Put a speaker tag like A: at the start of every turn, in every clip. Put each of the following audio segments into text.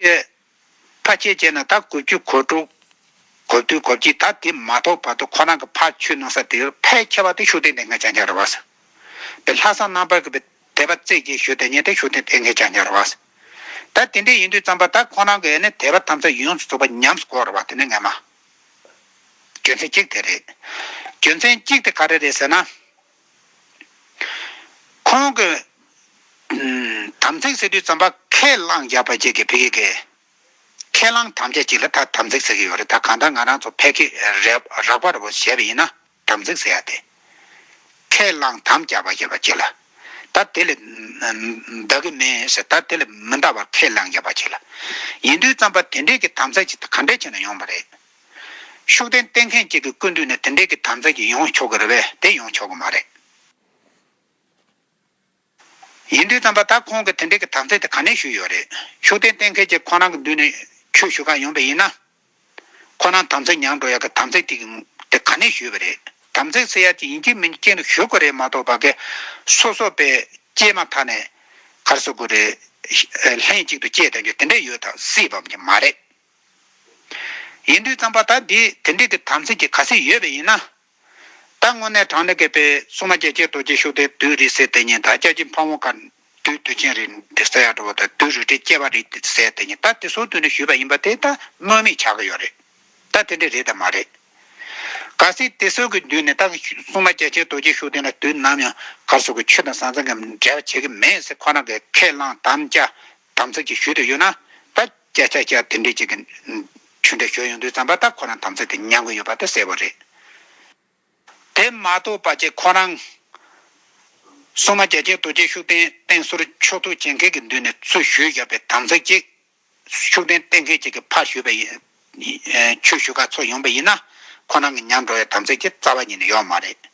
A: ཨེ། ཕ་ཁྱེད་ཅེ་ན་ད་གོ་རྒྱུ་གོ་དྲུག། གོ་བདུན་གོ་བཞི་ད་དེ་མ་ཐོབ་བར་དུ་ཁོ་རང་གི་ཕ་ཆོས་གནང་ས་དེར་ཕའི་ཁྱེ་བ་དེ་ཤུགས་ལྡན་ལྡན་ངས་ཅང་ཅང་རེ་བ་ས། པའི་ལྷ་བསང་རྣམ་པར་གི་པའི་དད་པ་བརྩེ་བརྒྱད་ཞུ་དེ་ཉེན་དེ་ཤུགས་ལྡན་ལྡན་ངས་ཅང་ཅང་རེ་བ་ས། ད་དེ་འདྲས་ཡིན་དུས་ཙམ་པ་ད་ཁོ་རང་གི་ཨེ་ནི་དད་པ་ཐམས་ཅད་ཡོངས་སུ་རྫོགས་པ་ཉམས་སུ་བསྐོར་རེ་བ་དེ་ནི་ངས་མ། རྒྱུ་མཚན་གཅིག་དེ་རེད། རྒྱུ་མཚན་གཅིག་དེ་ག་རེ་རེད་ཟེར་ན། ཁོང་གི་དམ་ཚིག་ཟེར་དུས་རྩམ་པ་ཁས་བླངས་བརྒྱབ་པ་བཅས་ཀྱི་བེ་ཀེ་ཀེ་ཁས་བླངས་དམ་བཅའ་གཅིག་ལ་ད་དམ་ཚིག་ཟེར་གྱི་ཡོད་རེད་ད་གང་ལྟར་ང་རང་ཚོ་ཕལ་སྐད་རག་པ་རེད་བོ་བྱས་པ་ཡིན་ན་དམ་ཚིག་ཟེར་ཡ་དེ་ཁས་བླངས་དམ་བཅའ་བ་བྱས་པ་གཅིག་ལ་ད་དེ་ལས་འདའ་གི་མེད་ཟེར་ད་དེ་ལས་མི་འདའ་བར་ཁས་བླངས་བརྒྱབ་པ་གཅིག་ལ་ཡིན་དུས་རྩམ་པ་དེ་འདྲས་ཀྱི་དམ་ཚིག་གཅིག་ག་འདྲས་ཆེ་ན་ཡོང་བ་རེད། ཤུགས་ལྡན་བསྟེན་མཁན་གཅིག་གི་སྐུ་མདུན་ནས་དེ་འདྲའི་གི་དམ་རྫས་ཀྱི་ཡོང་ཆོག་གི་རེད་བས་དེ་ཡོང་ཆོག་གི་མ་རེད། ཡིན་དུས་དམ་པ་ད་ཁོང་གི་དེ་འདྲའི་གི་དམ་རྫས་དེ་ག་ནས་ཞུས་ཡོད་རེད། ཤུགས་ལྡན་བསྟེན་མཁན་གཅིག་ཁོ་རང་གི་མདུན་ནས་ཆོས་ཞུ་ཁ་ཡོང་པའི་ཡིན་ན། ཁོ་རང་དམ་རྫས་མྱངས་འགྲོ་ཡག་གི་དམ་རྫས་དེ་དེ་ག་ནས་ཞུས་པ་རེད། དམ་རྫས་ཟེར་ཡག་ཅིག་ཡིན་གཅིག་མིན་གཅིག་ཅན་རིགས་ཞུ་དགོས་རེད་མ་གཏོགས་པ་གི་སོ་སོ་པས་སྐྱེས་མ་ཐག་ནས་གར་སོ་དགོས་རེད། ལྷན་ཅིག་ཏུ་སྐྱེས་བསྡད་རྒྱུ་དེ་འདྲས་ཡོད་ད་སྲིད་བབ་ཀྱི་མ་རེད། ཡིན་དུས་བརྩམས་པ་ད་འདི་དེ་འདྲས་ཀྱི་དམ་ཚིག་གི་ཁ་ཟས་ཡོད་པས་ཡིན་ན། ད་དངོས་གནས་དྲང་ལེགས་གད་པའི་སྲུང་མ་རྒྱལ་གཅེས་རྡོ་རྗེ་ཤུགས་ལྡན་དུད་རིགས་ཟེར་དེ་ཉིད་ད་སྐྱབས་རྗེ་འཕགས་མོ་གར་འདུས་དུས་ཆེན་རིགས་འདི་ཟེར་ཡག་འགྲོ་བ་དང་དུད་རུ་ཁྲི་སྐྱེས་པ་རིགས་ཟེར་དེ་ཉིད་ད་དེ་ཟུར་དུ་ནས་ཞུས་པ་ཡིན་པ་དེ་ད་སྨོས་མེད་བྱ་གི་ཡོད་རེད། ད་དེ་འདྲས་རེད་དམ་མ་རེད། གར་སའི་དེ་ཟུར་གྱི་མདུན་ནས་ད་སྲུང་མ་རྒྱལ་གཅེས་རྡོ་རྗེ་ཤུགས་ལྡན་ལ་དུས་ནམ་ཡང་གར་སོགས་ཀྱི་ཆོས་དང་ཟང་ཟིང་གི་འབྲེལ་བ་བྱེད་ཀྱི་མེད་ཟེར་ཁོ་རང་གིས་ཁས་བླངས་དམ་བཅའ་དམ་ཚིག་ཅིག་ཞུས་དུས་ཡོད་ན་ད། ཀྱ་ཀྱ་ཀྱ་དེ་འདྲས་ཅིག་གི། ཆུ་འདྲ་ཞོ་ཡོང་དུས་བརྩམས་པ་དག་ཁོ་རང་དམ་ཚིག་གིས་མྱང་གི་ཡོད་པ་དེ་གསལ་བོ་རེད། དེ་མ་གཏོགས་པ་ཅིག་ཁོ་རང། སྲུང་མ་རྒྱལ་ཆེན་རྡོ་རྗེ་ཤུགས་ལྡན་བསྟེན་ཟུར་མཆོག་ཐུགས་ཆེན་མཁས་ཀྱི་མདུན་ནས་ཚུར་བཞུད་བཞག་པའི་དམ་ཚིག་ཅིག། ཤུགས་ལྡན་བསྟེན་མཁས་ཅིག་གིས་ཕར་བཞུད་པ་ཡིན། ཆོས་ཞུ་ག་ཚོགས་ཡོང་པ་ཡིན་ན། ཁོ་རང་གི་མྱང་འགྲོ་བའི་དམ་ཚིག་ཅིག་རྩ་བ་ཉིད་ནས་ཡོག་མ་རེད།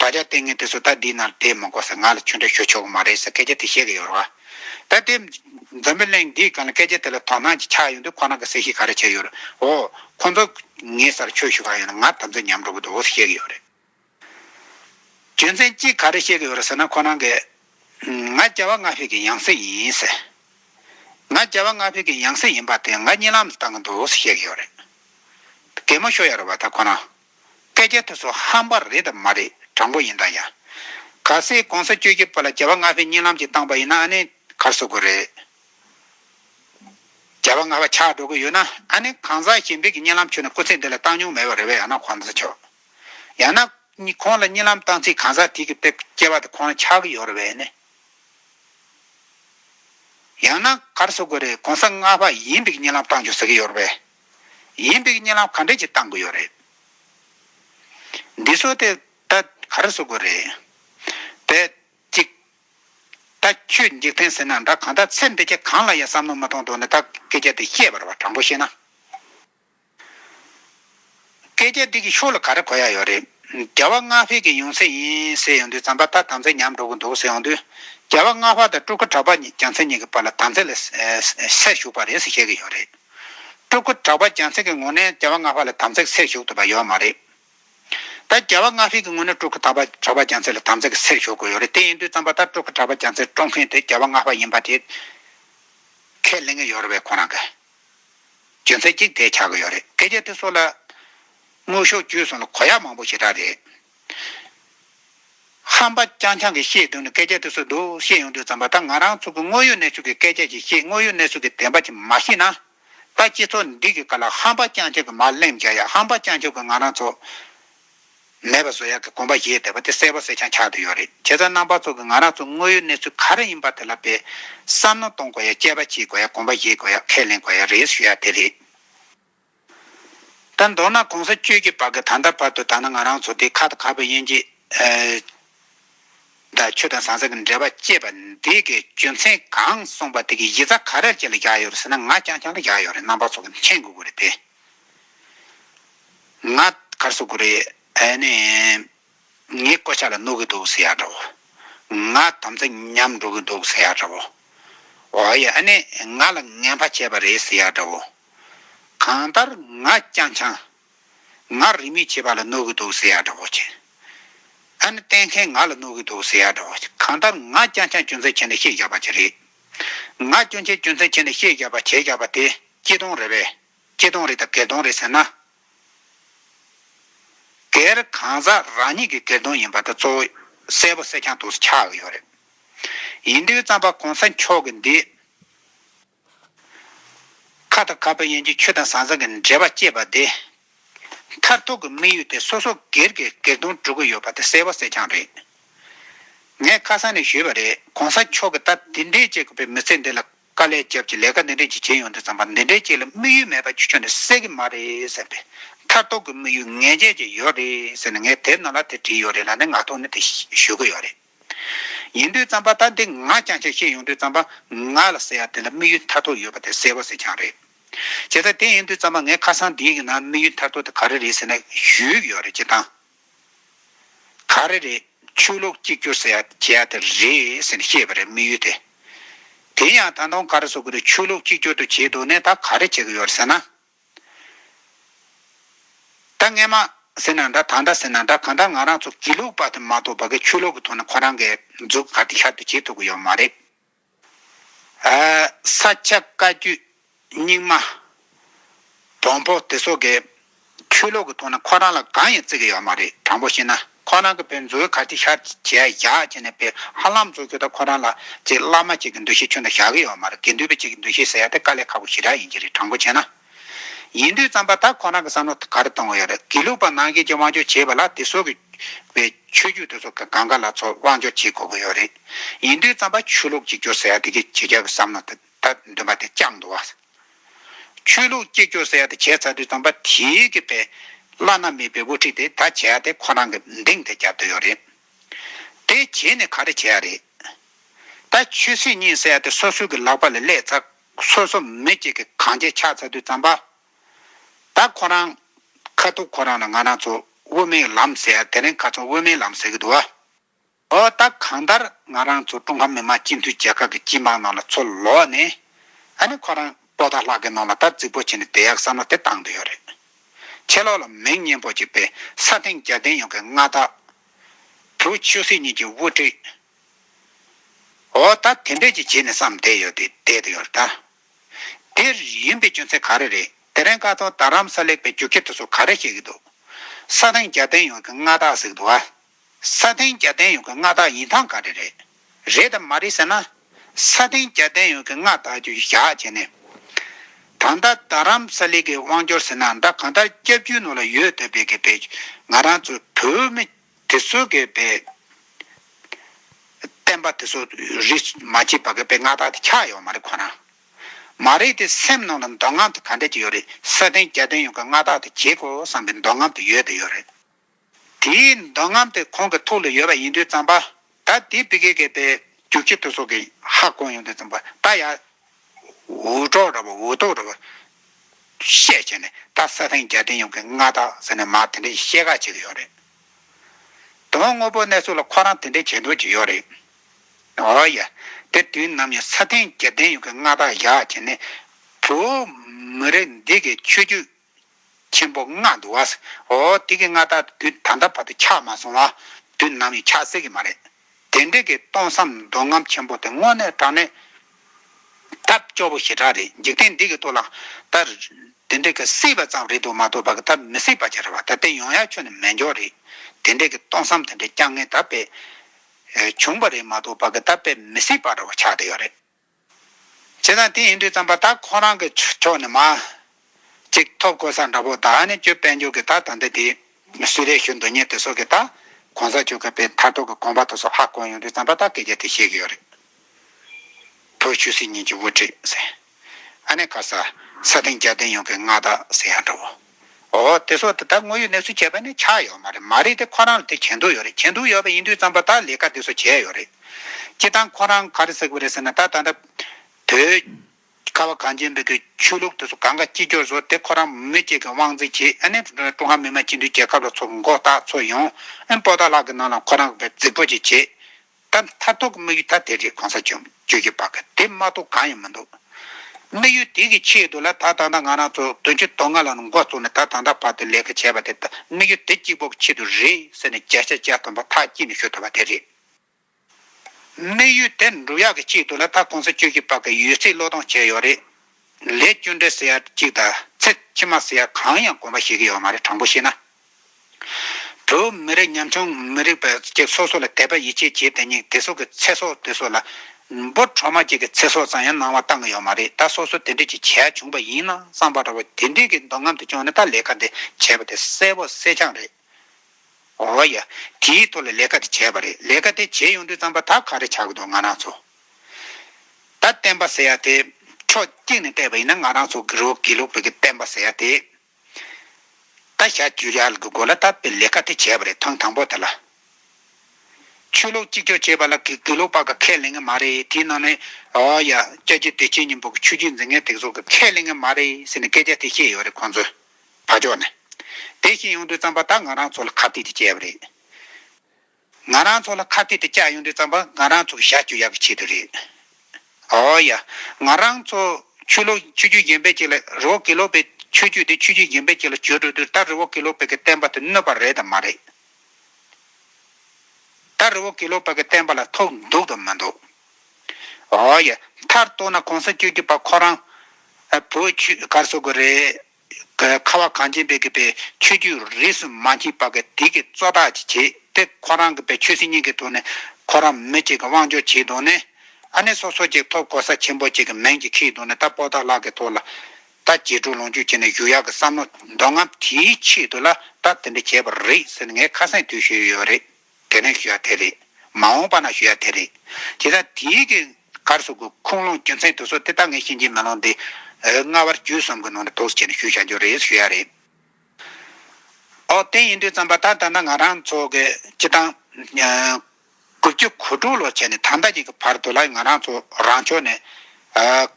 A: ད་ཆ་ལྟས་ངན་དེ་ཚོ་ད་འདིའི་ནང་བལྟས་མ་གོ་ས་ང་ལ་ཆོས་འབྲེལ་ཞུ་ཆོག་གི་མ་རེད་ཟེར་སྐད་ཆ་དེ་བཤད་གི་ཡོད་རེད། ད་ལྟའི་འཛམ་བུའི་གླིང་འདིའི་སྒང་ལ་སྐད་ཆ་དེ་ལ་དོ་སྣང་ཅིག་ཆགས་ཡོང་དུས་ཁོ་རང་གི་སེལ་ཤེས་ག་རེ་བྱས་ཡོད་རེད། འོ། ཁོ་ཚོ། ངའི་སར་ཆོས་ཞུ་ག་ཡོད་ན་ང་ད་ཚོད་ཉམས་འགྲོ་གི་འདུག་འོ་ཟེར་བཤད་གི་ཡོད་རེད། རྒྱུ་མཚན་གཅིག་ག་རེ་བཤད་གི་ཡོད་རེད་ཟེར་ན་ཁོ་རང་གིས། ང་རྒྱལ་བ་ལྔ་བྷེལ་གྱི་ཡང་སྲིད་ཡིན་ཟེར། ང་རྒྱལ་བ་ལྔ་བྷེལ་གྱི་ཡང་སྲིད་ཡིན་པ་དེ་ང་གཉིད་ལམ་དུ་བཏང་གི་འདུག་ཟེར་བཤད་གི་ཡོད་རེད། གད་མོ་ཤོར་ཡ་རེད་བ་ད་ཁོ་རང། སྐད་རྒྱལ་ཐོས་སོ་ཧམ་པ་རེད་དམ་མ་རེད་དྲང་པོ་ཡིན་ད་ཡ། ག་སྲིད་གོང་ས་བཅོས་བསྒྱུར་པ་ལ་རྒྱལ་བ་ལྔ་བས་གཉིད་ལམ་གྱིས་བཏང་པ་ཡིན་ན་ཨ་ནི་གར་སོ་དགོས་རེད། རྒྱལ་བ་ལྔ་བ་ཆགས་འགྲོ་གི་ཡོད་ན་ཨ་ནི་གང་ཟག་གཞན་པའི་གི་གཉིད་ལམ་ཆུད་ན་སྐུ་ཚེ་འདི་ལ་བཏང་མྱོང་མེད་པ་རེད་བས་ཡང་ན་གོང་ས་མཆོག་ཡང་ན་ཁོང་ལ་གཉིད་ལམ་བཏང་ཚིག་གང་ཟག་དེ་གི་དེབ་སྐྱེལ་བ་དེ་ཁོང་ལ་ཆགས་གི་ཡོད་རེད་བས་ཨ་ནི་ཡང་ན་གར་སོ་དགོས་རེད་གོང་ས་ལྔ་བ་ཡིན་པའི་གི་གཉིད་ལམ་བཏང་ཆོག་ཟེར་གི་ཡོད་རེད་བས། ཡིན་པའི་བརྙན་ལམ་ག་འདྲ་ཞིག་བཏང་གི་ཡོད་རེད། འདི་བཟོ་དེ་ད་ག་རེ་བཟོ་དགོས་རེད། བལ། ཅིག། ད་ཁྱོད་འཇིག་རྟེན་ཟེར་ན་འདྲ་གང་ད་ཚེ་འདི་ཁྱེད་གང་ལ་ཡང་བསམ་བློ་མ་གཏོང་དོགས་ནས་ད་སྐད་ཆ་དེ་བཤད་པར་བ་དྲང་པོ་བཤད་ན། སྐད་རྒྱ་སྡིག་གི་ཕྱོགས་ལ་ག་རེ་གོ་ཡག་ཡོད་རེད། རྒྱལ་བ་ལྔ་བྷེ་གི་ཡོང་ཚད་ཡིན་ཟེར་ཡོང་དུས་རྩམ་པ་ད་དམ་ཚད་ཉམས་འགྲོ་གི་འདུག་ཟེར་ཡོང་དུས། རྒྱལ་བ་ལྔ་བྷ་དང་སྤྲུལ་སྐུ་གྲགས་པ་རྒྱལ་མཚན་གཉིས་ཀྱི་བར་ལ་དམ་ཚད་ལ་སེར་ཞུགས་པ་རེད་ཟེར་བཤད་གི་ཡོད་རེད། སྤྲུལ་སྐུ་གྲགས་པ་རྒྱལ་མཚན་གྱི་ངོ་ནས་རྒྱལ་བ་ལྔ་བྷ་ལ་དམ་ཚད་སེར་ཞུགས་ཐུབ་པ་ཡོད་མ་རེད། ད་རྒྱལ་བ་ལྔ་བྷེ་གི་ངོ་ནས་སྤྲུལ་སྐུ་གྲགས་པ་གྲགས་པ་རྒྱལ་མཚན་ལ་དམ་ཚད་ཀྱི་སེར་ཞུགས་དགོས་ཡོད་རེད་དེ་ཡིན་དུས་རྩམ་པ་ད་སྤྲུལ་སྐུ་གྲགས་པ་རྒྱལ་མཚན་བཀྲོངས་མཁན་དེ་རྒྱལ་བ་ལྔ་བྷ་ཡིན་པ་དེ་ཁས་ལེན་གི་ཡོད་རེད་བས་ཁོང་རང་གིས། རྒྱུ་མཚན་གཅིག་དེ་ཆགས་ཀྱི་ཡོད་རེད་སྐད་ཆ་དེ་སོགས་ལ། དངོས་ཤུགས་བཅོལ་སོང་ལ་གོ་ཡག་མང་པོ་བྱེད་གྲབས་རེད། ཧམ་པ་རྐྱང་རྐྱང་གིས་བཤད་དོན་ནི་སྐད་ཆ་དེ་སོགས་འདུག་བཤད་ཡོང་དུས་ཙམ་པ་ད་ང་རང་ཚོ་གིས་དངོས་ཡོད་གནས་ཚུལ་གྱི་སྐད་ཆ་ཞིག་བཤད་དངོས་ཡོད་གནས་ཚུལ་གྱི་བདེན་པ་ཞིག་མ་བཤད་ན། ད་སྤྱི་ཚོགས་འདི་གི་བཀའ་ལ་ཧམ་པ་རྐྱང་རྐྱང་གིས་མར་གླེང་བྱ་ཡ་ཧམ་པ་རྐྱང་རྐྱང་གིས་ང་རང་ཚོ། མེད་པ་བཟོ་ཡག་གི་དགོངས་པ་བཞེས་བསྡད་པ་དེ་གསལ་བ་གསལ་ཆང་ཆགས་དུ་ཡོད་རེད་བྱས་ཙང་རྣམ་པ་ཚོ་གི་ང་རང་ཚོ་དངོས་ཡོད་གནས་ཚུལ་ག་རེ་ཡིན་པ་དེ་ལ་དཔེ་བསམ་མནོ་གཏོང་དགོས་ཡ་དཔྱད་པ་བྱེད་དགོས་ཡ་དགོངས་པ་བཞེས་དགོས་ཡ་ཁས་ལེན་དགོས་ཡ་རེད་ཞུ་ཡ་དེ་རེད། ད་མདོར་ན་གོང་ས་བཅོས་ཀྱི་བར་གི་ད་ལྟ་བར་དུ་ད་ནི་ང་རང་ཚོ་དེ་ཁ་དང་ཁ་བོད་དབྱེན་འབྱེད་དང་ཆོས་དང་ཟང་ཟིང་གི་འབྲེལ་བ་བཅད་པ་འདི་གི་རྒྱུ་མཚན་གང་གསུངས་པ་དེ་གི་གཞི་རྩ་ག་རེར་ཅི་ལ་བཞག་ཡོད་རེད་ཟེར་ན་ང་རྐྱང་རྐྱང་ལ་བཞག་ཡོད་རེད་རྣམ་པ་ཚོ་གི་མཁྱེན་དགོས་དགོས་རེད་དེ། ང་གར་སོ་གུ་རེ་ཨེ་ནས་ངའི་སྐོར་ཆ་ལ་གནོད་གི་འདུག་ཟེར་ཡག་འདྲ་བོ། ང་དམ་བཅའ་ཉམས་འགྲོ་གི་འདུག་ཟེར་ཡག་འདྲ་བོ། ཨོ་ཡ་ཨེ་ནས་ང་ལ་ངན་ཕ་བྱས་པ་རེད་ཟེར་ཡག་འདྲ་བོ། གང་ལྟར་ང་སྐྱང་ཆང། ང་རིས་མེད་བྱེད་པ་ལ་གནོད་གི་འདུག་ཟེར་ཡག་འདྲ་བོ་བྱས། ཨེ་ནས་བསྟན་མཁན་ང་ལ་གནོད་གི་འདུག་ཟེར་ཡག་འདྲ་བོ་བྱས་གང་ལྟར་ང་སྐྱང་ཆང་གྱོན་ཚད་ཁྱེད་ནས་ཤེས་རྒྱག་པ་ཅིག་རེད། ང་སྐྱོན་ཆེ་སྐྱོན་ཚད་ཆེ་ནས་ཤེས་རྒྱག་པ་བྱེད་རྒྱག་པ་དེ་ཀྱེ་སྟོང་རེད་བས། ཀྱེ་སྟོང་རེད་དམ་གལ་སྟོང་རེད་ཟེར་ན། གལ་གང་ཟག་རང་ཉིད་ཀྱི་གལ་སྟོང་ཡིན་པ་དེ་གཙོ་བོ་གསལ་པོ་གསལ་རྐྱང་དུ་ཆགས་ཡོད་རེད། ཡིན་དུས་རྩམ་པ་གོང་ས་མཆོག་གི་འདི། ཁ་དང་ཁ་བབས་ཡན་གྱི་ཆོས་དང་བཟང་བཟང་གི་འབྲེལ་བ་ཅེས་པ་དེ་མཐར་ཐུག་གི་དམིགས་ཡུལ་དེ་སོ་སོ་སྒེར་གྱིས་སྒེར་གདོང་སྒྲུག་གི་ཡོད་པ་དེ་གསལ་བ་གསལ་རྐྱང་རེད། ངས་ཁ་སང་ནས་ཞུས་པ་རེད་གོང་ས་མཆོག་གིས་ད་འདི་འདྲས་བྱེད་དགོས་པའི་མི་ཚེ་འདི་ལ་དཀའ་ལས་རྒྱབ་ཀྱི་ལས་ཀ་འདི་འདྲས་ཀྱི་བྱེད་ཡོང་དུས་ཙམ་པ་འདི་འདྲས་ཅིག་ལ་དམིགས་ཡུལ་མེད་པ་ཆུ་ཆོད་ནས་གསལ་གི་མ་རེད་ཟེར་ཏེ་མཐར་ཐུག་གི་དམིགས་ཡུལ་ངས་བྱས་ཀྱི་ཡོད་རེད་ཟེར་ནས་ངས་དེབ་ནང་ལ་དེ་བྲིས་ཡོད་རེད་ལ་ནས་ང་ཐོག་ནས་དེ་ཞུ་གི་ཡོད་རེད། ཡིན་དུས་རྩམ་པ་ད་འདི་ང་རྐྱང་ཆ་ཤེས་ཡོང་དུས་རྩམ་པ་ང་ལ་ཟེར་ཡ་དེ་ལ་དམིགས་ཡུལ་ཐར་ཐོར་ཡོད་པ་དེ་གསལ་བོ་ཟེར་ཆང་རེད། བྱས་ཙང་དེ་ཡིན་དུས་རྩམ་པ་ངའི་ཁ་སང་འདིའི་གི་ནང་དམིགས་ཡུལ་ཐར་ཐོར་དེ་ག་རེ་རེད་ཟེར་ན་ཞུས་ཡོད་རེད་བྱས་ཙང། ག་རེ་རེད་ཆོས་ལུགས་གཅིག་གྱུར་ཟེར་ཡ་བྱས་ཡ་དེ་རེད་ཟེར་ནས་བཤད་པ་རེད་དམིགས་ཡུལ་དེ། དེ་ཡང་ད་དུང་ག་རེ་བཟོ་གི་རེད་ཆོས་ལུགས་གཅིག་གྱུར་དུ་བྱེད་འདུག་ནས་ད་ག་རེ་བྱེད་གི་ཡོད་རེད་ཟེར་ན། ད་སྔས་མ་ཟེར་ན་འདྲ་ད་འདྲ་ཟེར་ན་འདྲ་གང་ལྟར་ང་རང་ཚོ་སྒྱིད་ལུག་པ་དེ་མ་གཏོགས་བ་གའི་ཆོས་ལུགས་ཀྱི་ཐོག་ནས་ཁོ་རང་གི་འཛུགས་ག་དེ་ཤར་དུ་བྱེད་ཐུབ་ཀྱི་ཡོད་མ་རེད། ས་སྐྱ་བཀའ་བརྒྱུད། རྙིང་མ། བོན་པོ་དེ་སོགས་ཀྱི་ཆོས་ལུགས་ཀྱི་ཐོག་ནས་ཁོ་རང་ལ་གང་ཡང་བརྩི་གི་ཡོད་མ་རེད་དྲང་པོ་བཤད་ན། ཁོ་རང་གི་བོད་མཛོའི་གར་སྟེགས་ཤར་བྱས་བཞག་བྱས་ནས་བོད་ཧ་ལམ་མཛོ་ཁྱོད་དང་ཁོ་རང་ལ་ཚེ་བླ་མ་གཅིག་གི་འདུ་ཤེས་ཁྱོད་དང་བཞག་གི་ཡོད་མ་རེད་དགེ་འདུན་པ་གཅིག་གི་འདུ་ཤེས་ཟེར་ཡ་དེ་དཀའ་ལས་ཁག་པོ་ཞེ་དྲག་ཡིན་གྱི་རེད་དྲང་པོ་བྱས་ན། ཡིན་དུས་རྩམ་པ་དག་ཁོ་རང་གི་བསམ་བློ་ག་རེ་གཏོང་གི་ཡོད་རེད་དགེ་ལུགས་པ་ནང་ཁེལ་གྱི་དབང་འབྱོར་བྱེད་པ་ལ་དེ་སོག་གི་བའི་ཆོས་རྒྱུད་དེ་ཚོ་ག་འགའ་ལ་ཚོ་དབང་འབྱོར་བྱེད་དགོས་གི་ཡོད་རེད་ཡིན་དུས་རྩམ་པ་ཆོས་ལུགས་གཅིག་གྱུར་ཟེར་ཡ་དེ་གི་བྱེད་རྒྱ་གི་བསམ་བློ་དེ་ད་འདོན་པ་དེ་བཅག་འདུག་བ། ཆོས་ལུགས་སྐྱེ་སྐྱོ་སེལ་ཏེ་བྱས་ཚར་དུས་ཚང་པ་དེའི་གི་བེ། བླ་ན་མེད་པའི་འུར་ཁྲིད་དེ་ད་བྱས་ཏེ་ཁོ་རང་གི་མདེང་དེ་རྒྱབ་དུ་ཡོད་རེད། དེ་བྱས་ནས་ག་རེ་བྱས་རེད། ད་ཆོས་སྲིད་གཉིས་སེལ་ཏེ་སོ་སོའི་གི་ལག་པ་ལ་སླེད་ཚར། སོ་སོ་མི་གཅིག་གི་གང་བྱས་ཆགས་ཚར་དུས་ཚང་པ། ད་ཁོ་རང། ཁ་ཐུག་ཁོ་རང་ལ་ང་རང་ཚོ་དབུ་མའི་ལམ་ཟེར་དེ་རིང་ཁ་ཚོང་དབུ་མའི་ལམ་ཟེར་གི་འདུག་ཨ། འོ་ད་གང་ལྟར་ང་རང་ཚོ་ཀྲུང་ཧྭ་མི་དམངས་སྤྱི་མཐུན་རྒྱལ་ཁབ་ཀྱི་སྤྱི་དམངས་ནང་ལ་ཚུར་ལོག་ནས། ཨ་ནི་ཁོ་རང་པོ་ད་ལྷག་གི་ནང་ལ་ད་རྫིག་པོ་བྱས་ནས་བསྡད་ཡག་བསམ་བློ་དེ་བཏང་འདོད་ཡོད་རེད། ཆད་ལོག་ལ་མིང་སྙན་པོ་གཅིག་པའི་ས་སྟེང་རྒྱལ་བསྟན་ཡོང་གི་མངའ་བདག། བུ་ཆོས་སྲིད་གཉིས་ཀྱི་དབུ་ཁྲིད། འོ་ད་དེ་འདྲས་ཀྱི་རྗེས་ནས་བསམ་བསྡད་ཡོད་དེ་བསྡད་དུ་ཡོད་རེད་ད། དེ་ཡིན་པའི་རྒྱུ་མཚན་ག་རེ་རེད་དེ་རན་ཀ་ཐོག་ད་རམ་ས་ལེགས་པའི་རྒྱུ་ཁྱེད་ཚོ་སུ་ག་རེ་བཤད་ཀྱི་འདུག་ས་སྟེང་རྒྱལ་བསྟན་ཡོང་གི་མངའ་བདག་ཟིག་འདུག་ཨ། ས་སྟེང་རྒྱ་བསྟན་ཡོངས་ཀྱི་མངའ་བདག་ཡིན་ཐང་ག་རེ་རེད། རེད་དམ་མ་རེད་ཟེར་ན། ས་སྟེང་རྒྱ་བསྟན་ཡོངས་ཀྱི་མངའ་བདག་རྒྱུན་བཞག་བྱས་ནས། ད་ལྟ་རྡ་རམ་ས་ལའི་གི་དབང་འབྱོར་ཟེར་ན་འདྲ་གང་ལྟར་སྐྱབས་རྒྱུན་ནང་ལ་ཡོད་འདོད་པའི་གི་བེད་ང་རང་ཚོ་བོད་མི་དེ་ཚོ་གི་བེད་བསྟན་པ་དེ་ཚོ་རིས་མ་བྱེད་པ་གི་བེད་མངའ་བདག་དེ་ཆགས་ཡོད་མ་རེད་ཁོ་ན་མ་རེད་དེ་སེམས་ནང་ལ་མདོ་སྔགས་དེ་ག་འདྲ་གྱི་ཡོད་རེད་ས་སྟེང་རྒྱ་བསྟན་ཡོངས་ཀྱི་མངའ་བདག་དེ་བྱེད་དགོས་བསམ་པའི་མདོ་སྔགས་དེ་ཡོད་དེ་ཡོད་རེད། དེའི་མདོ་ངམ་དེ་ཁོང་གི་ཐུགས་ལ་ཡོད་པ་ཡིན་དུས་ཙམ་པ། ད་དེའི་བི་གེ་གེ་པའི་རྒྱུག་ཁྱི་ཐུགས་སྲོག་གིས་ཧ་བསྐོང་ཡོང་དུས་ཙམ་པ། ད་ཡ། འུ་གྲོགས་འདྲ་པོ་འུ་ཐུག་འདྲ་པོ། བཤད་བྱས་ནས་ད་ས་ཐེངས་བརྒྱ་བསྟན་ཡོང་གི་མངའ་བདག་ཟེར་ནས་མར་དེ་འདྲའི་བཤད་ག་བྱེད་ཀྱི་ཡོད་རེད། དོན་དངོས་པོ་གནས་ཚུལ་ལ་ཁོ་རང་དེ་འདྲའི་བྱེད་འདོད་ཀྱི་ཡོད་རེད། འོ་ཡ། དེ་དུས་ནམ་ཡང་ས་ཐེངས་བརྒྱ་བསྟན་ཡོང་གི་མངའ་བདག་ཡ་བྱས་ནས། བུ། མི་རིགས་འདི་གའི་ཆོས་བརྒྱུད། ཆེན་པོ་མངགས་འདུག་བ། ཨོ། དེ་གི་མངའ་བདག་དུས་ད་ལྟ་བར་དུ་ཆགས་མ་སོང་བ། དུས་ནམ་ཡང་ཆགས་སྲིད་ཀྱི་མ་རེད། དེ་འདྲའི་གི་སྟོང་བསམ་མདོ་ངམ་ཆེན་པོ་དེ་དངོས་གནས་དྲང་གནས། ཐབས་སྐྱོ་བོ་ཞེ་དྲག་རེད་འཇིག་རྟེན་འདི་གི་ཐོག་ལ། ད། དེ་འདྲའི་གི་སྲིད་པ་ཙམ་རེད་འདུག་མ་གཏོགས་བ་གི་ད་མི་སྲིད་པ་ཅིག་རེད་བ་ད་དེ་ཡོང་ཡ་ཁྱོ་ནི་མེད་འཇོག་རེད། དེ་འདྲའི་གི་སྟོང་བསམ་དེ་འདྲ་རྐྱང་ངེས་ད་དཔེ། བྱུང་བ་རེད་མ་གཏོགས་བ་གི་ད་དཔེ་མི་སྲིད་པ་རེད་བ་ཆགས་དེ་ཡོ་རེད། བྱས་ཙང་དེ་ཡིན་དུས་བརྩམས་པ་དག་ཁོང་རང་གི་ཕྱོགས་ནས་མ། ཅིག་ཐོབ་དཀོན་ས་འདྲ་པོ་དག་ནི་ཁྱོད་དཔལ་འབྱོར་གྱི་དག་ད་ལྟ་དེ། སུས་རེ་ཞུ་འདོད་ཉེ་དེ་སོགས་ཀྱི་དག། གོང་ས་མཆོག་གི་དཔེ་མཐར་ཐུག་གི་དགོངས་པ་དག་སོགས་ཧ་གོ་ཡོང་དུས་བརྩམས་པ་དག་སྐད་ཆ་དེ་བཤད་ཀྱི་ཡོད་རེད། བོད་ཆོས་སྲིད་གཉིས་ཀྱི་དབུ་ཁྲིད་ཟེར། ཨ་ནེ་ཀ་ས། ས་སྟེང་བརྒྱ་སྟོན་ཡོངས་ཀྱི་མངའ་བདག་ཟེར་ཡང་འདྲ་བོ། ཨོ། དེ་སོགས་དེ་ལྟར་དངོས་ཡོད་གནས་ཚུལ་དཔྱད་པ་ནི་ཆགས་ཡོད་མ་རེད། མ་རེད་དེ་ཁོ་རང་ལ་དེ་བྱེད་འདོད་ཡོད་རེད་བྱེད་འདོད་ཡོད་པ་ཡིན་དུས་ཙམ་པ་ད་ལས་ཀ་དེ་སོགས་བྱས་ཡོད་རེད། སྤྱིར་བཏང་ཁོ་རང་ག་རེ་ཟེར་གི་རེད་ཟེར་ན་ད་ད་ལྟ། བོད། ཁ་བ་གངས་ཅན་པོད་ཀྱི་ཆོས་ལུགས་དེ་སོགས་གང་ག་ཅི་འབྱོར་སོགས་དེ་ཁོ་རང་མི་སྤྱད་ཀྱི་དབང་འཛིན་བྱས་ཨ་ནི་ཀྲུང་ཧྭ་མི་དམངས་སྤྱི་མཐུན་རྒྱལ་ཁབ་ལ་ཚོགས་མགོ་བཏགས་ཚོགས་ཡོང། ཨ་ནི་པོ་ཏཱ་ལགས་ཀྱི་ནང་ལ་ཁོ་རང་གི་བེད་རྫིག་པོ་ཅིག་བྱས། ད་མཐར་ཐུག་དམིགས་ཡུལ་ཐ་དད་རེད་གང་ཟག་ཆོས་ཀྱི་བར་ག་དེ་མ་གཏོགས་གང་ཡང་མི་འདུག་དམིགས་ཡུལ་དེ་གི་ཆེད་དུ་ལ་ད་ད་ད་ང་རང་ཚོ་དོན་ཆེན་དོ་ལྔ་ལ་མགོ་བཙུགས་ནས་ད་ད་ད་བར་དུ་ལས་ཀ་བྱས་པ་དེ་ད་དམིགས་ཡུལ་དེ་གཅིག་པོ་གི་ཆེད་དུ་རེད་ཟེར་ནས་བརྒྱ་ཆ་བརྒྱ་སྟོང་པ་ཐག་གཅིག་ནས་ཤོད་ཐུབ་པ་དེ་རེད། དམིགས་ཡུལ་དེ་འགྲུབ་ཡག་གི་ཆེད་དུ་ལ་ད་གང་ཟག་ཆོས་ཀྱི་བར་ག་ཡོད་ཚད་བློས་གཏོང་བྱས་ཡོད་རེད། ལས་སྐྱོན་འབྲས་ཟེར་ཡ་གཅིག་ད་ཚེ་ཕྱི་མ་ཟེར་ཡ་གང་ཡང་གོམས་པ་བྱེད་གི་ཡོད་མ་རེད་དྲང་པོ་བཤད་ན། བོད་མི་རིགས་ཉམ་ཆུང་མི་རིགས་པ་གཅིག་སོ་སོ་ལ་དད་པ་ཡིད་ཆེས་བྱས་དེ་ཉིད་དེ་སོག་གི་ཚེ་སྲོག་དེ་སོག་ལ། འབུ་གྲོག་མ་གཅིག་གི་ཚེ་སྲོག་ཙམ་ཡང་གནང་བ་བཏང་གི་ཡོད་མ་རེད་ད་སོ་སོ་དེ་འདྲས་ཀྱི་བྱས་བྱུང་པ་ཡིན་ན་བསམ་པ་འདྲ་བོ་དེ་འདྲས་ཀྱི་འདོ་ངམ་དུ་བཅོང་ནས་ད་ལས་ཀ་འདི་བྱས་པ་དེ་གསལ་བོ་གསལ་རྐྱང་རེད། འོ་ཡ། དེའི་ཐོག་ལ་ལས་ཀ་དེ་བྱས་པ་རེད་ལས་ཀ་དེ་བྱས་ཡོང་དུས་བསམ་པ་ད་ག་རེ་བྱ་གི་འདུག་ང་རང་ཚོ། ད་བསྟན་པ་ཟེར་ཡ་དེ། ཕྱོགས་གཅིག་ནས་བལྟས་པ་ཡིན་ན་ང་རང་ཚོ་གི་རོ་གི་ལུག་རིགས་ཀྱི་བསྟན་པ་ཟེར་ཡ་དེ། ད་ཞག་དུས་རེ་ཨལ་གི་མགོ་ལ་བཏབ་པའི་ལས་ཀ་དེ་བྱས་པ་རེད་ཐེངས་དང་པོ་དེ་ལ། ཆོས་ལུགས་གཅིག་ལྕོགས་བྱས་པ་ལ་གི་དགེ་ལུགས་པ་གི་ཁས་ལེན་ངེས་མ་རེད་དེའི་ནང་ནས་ཨོ་ཡ་ལྕགས་ཀྱི་བདེ་སྐྱིད་སྙིང་པོ་གི་ཆོས་རྒྱུད་འཛིན་མཁན་དེ་ཚོ་གི་ཁས་ལེན་ངེས་མ་རེད་ཟེར་ནས་སྐད་ཆ་དེ་བཤད་ཡོད་རེད་ཁོང་ཚོས་བག་ཆོག་ནས་དེ་བཤད་ཡོང་དུས་བརྩམས་པ་ད་ང་རང་ཚོ་ལ་ཁ་གཏད་དེ་བཅད་པ་རེད། ང་རང་ཚོ་ལ་ཁ་གཏད་དེ་བཅག་ཡོང་དུས་བརྩམས་པ་ང་རང་ཚོ་གཞའ་གཅུ་ཡག་གི་ཆེད་དུ་རེད། ཨོ་ཡ། ང་རང་ཚོ་ཆོས་ལུགས་ཆོས་རྒྱུད་རྒན་པད་ཅིག་ལ་རི་བོ་དགེ་ལོག་པའི་ཆོས་རྒྱུད་དེ་ཆོས་རྒྱུད་རྒན་པད་ཅིག་ལ་བཅོལ་འགྲོ་དུས་ད་རི་བོ་དགེ་ལོག་པད་ཀྱི་བསྟན་པ་དེ་གནོད་པ་རེད་དམ་མ་རེད། ད་རི་བོ་དགེ་ལོག་པད་ཀྱི་བསྟན་པ་ལ་ཐོག་འདུག་དམ་མི་འདུག། ཨོ་ཡ། མཐར་གཏུགས་ན་གོང་ས་བཅུ་བརྒྱུད་པ་ཁོ་རང་བོད་ཆོས་གར་བཟོ་དགོས་རེད། ཁ་བ་གངས་ཅན་པའི་གི་པའི་ཆོས་བརྒྱུད་རིས་སུ་མ་མཆིས་པ་གི་དེ་གི་གཙོ་བདག་ཅིག་བྱེད་དེ་ཁོ་རང་གི་པའི་ཆོས་སྲིད་གཉིས་གི་ཐོག་ནས་ཁོ་རང་མི་གཅིག་གི་དབང་འབྱོར་བྱས་དོགས་ནས་ཨ་ནེ་སོ་སོ་ཅིག་ཐོབ་གོ་ས་ཆེན་པོ་ཅིག་གི་མིང་ཅིག་ཁེགས་དོགས་ནས་ད་སྤོ་ད་ལག་གི་ཐོག་ལ་ད་རྗེས་འགྲོ་ལོངས་སྤྱོད་བྱས་ནས་བཞུགས་ཡག་གི་བསམ་བློ་འདོང་ངམ་དེའི་ཆེད་དུ་ལ་ད་དེ་འདྲ་བྱས་པ་རེད་ཟེར་ནས་ངས་ཁ་སང་དུས་ཤོད་ཡོད་རེད། དེ་ནས་ཞུ་བ་དེ་རེད། མ་འོངས་པ་ན་ཞུ་བ་དེ་རེད། བྱས་ཙང་དེའི་གི་གར་སོགས་ཀྱི་ཁུངས་ལུང་རྒྱུ་མཚན་དུ་སོགས་དེ་དག་ངས་ཤེས་ཀྱི་མི་ལོང་སྟེ། སྔ་བར་བརྒྱུད་གསུམ་གྱི་ནང་དུ་དོགས་སུ་བྱས་ནས་ཞུ་བྱ་རྒྱུ་རེད་ཞུ་ཡ་རེད། ཨོ་དེ་ཡིན་དུས་བརྩམས་པ་དང་ད་ལྟ་ང་རང་ཚོ་གི་སྤྱི་དང། དགུ་བཅུ་གོ་དྲུག་ལོ་བྱས་ནས་ད་ལྟ་གྱི་གི་བར་དུ་ལ་ང་རང་ཚོ་རང་ཕྱོགས་ནས།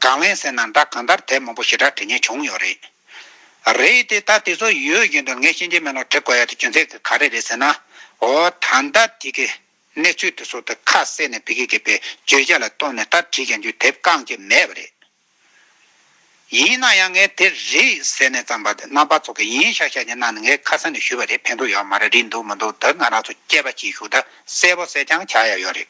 A: གང་ལེན་ཟེར་ན་འདྲ་གང་ལྟར་དེབ་མང་པོ་ཞེ་དྲག་བྲི་ཉེན་བྱུང་ཡོད་རེད། རེད་དེ་ད་དེ་ཚོ་ཡོད་བཞིན་དུ་ངས་ཤེས་ཀྱི་མེད་ལ་དྲི་དགོས་ཡ་དེ་རྒྱུ་མཚན་ག་རེ་རེད་ཟེར་ན། འོ་ད་ལྟ་དེ་གའི་གནས་ཚུལ་དེ་ཚོ་དེ་ཁ་གསལ་ནས་བི་ཀི་ཀི་པའི་བརྗོད་བྱ་ལ་ལྟོས་ནས་ད་དྲིས་ཀྱང་རྒྱུ་དེབ་བཀང་ཀྱི་མེད་པ་རེད། ཡིན་ན་ཡང་ངས་དེ་རེད་ཟེར་ནས་བརྩམས་པ་དེ་རྣམ་པ་ཚོ་གི་ཡིན་ཤག་ཤག་ཀྱི་གནང་ནས་ངས་ཁ་སང་ནས་ཞུས་པ་རེད་ཕན་ཐོག་ཡོད་མ་རེད་རིགས་འདུག་མི་འདུག་དེ་ང་རང་ཚོ་སྐྱེས་པ་སྐྱིད་ཤུགས་དང་གསལ་པོ་གསལ་རྐྱང་བྱ་ཡ་ཡོད་རེད།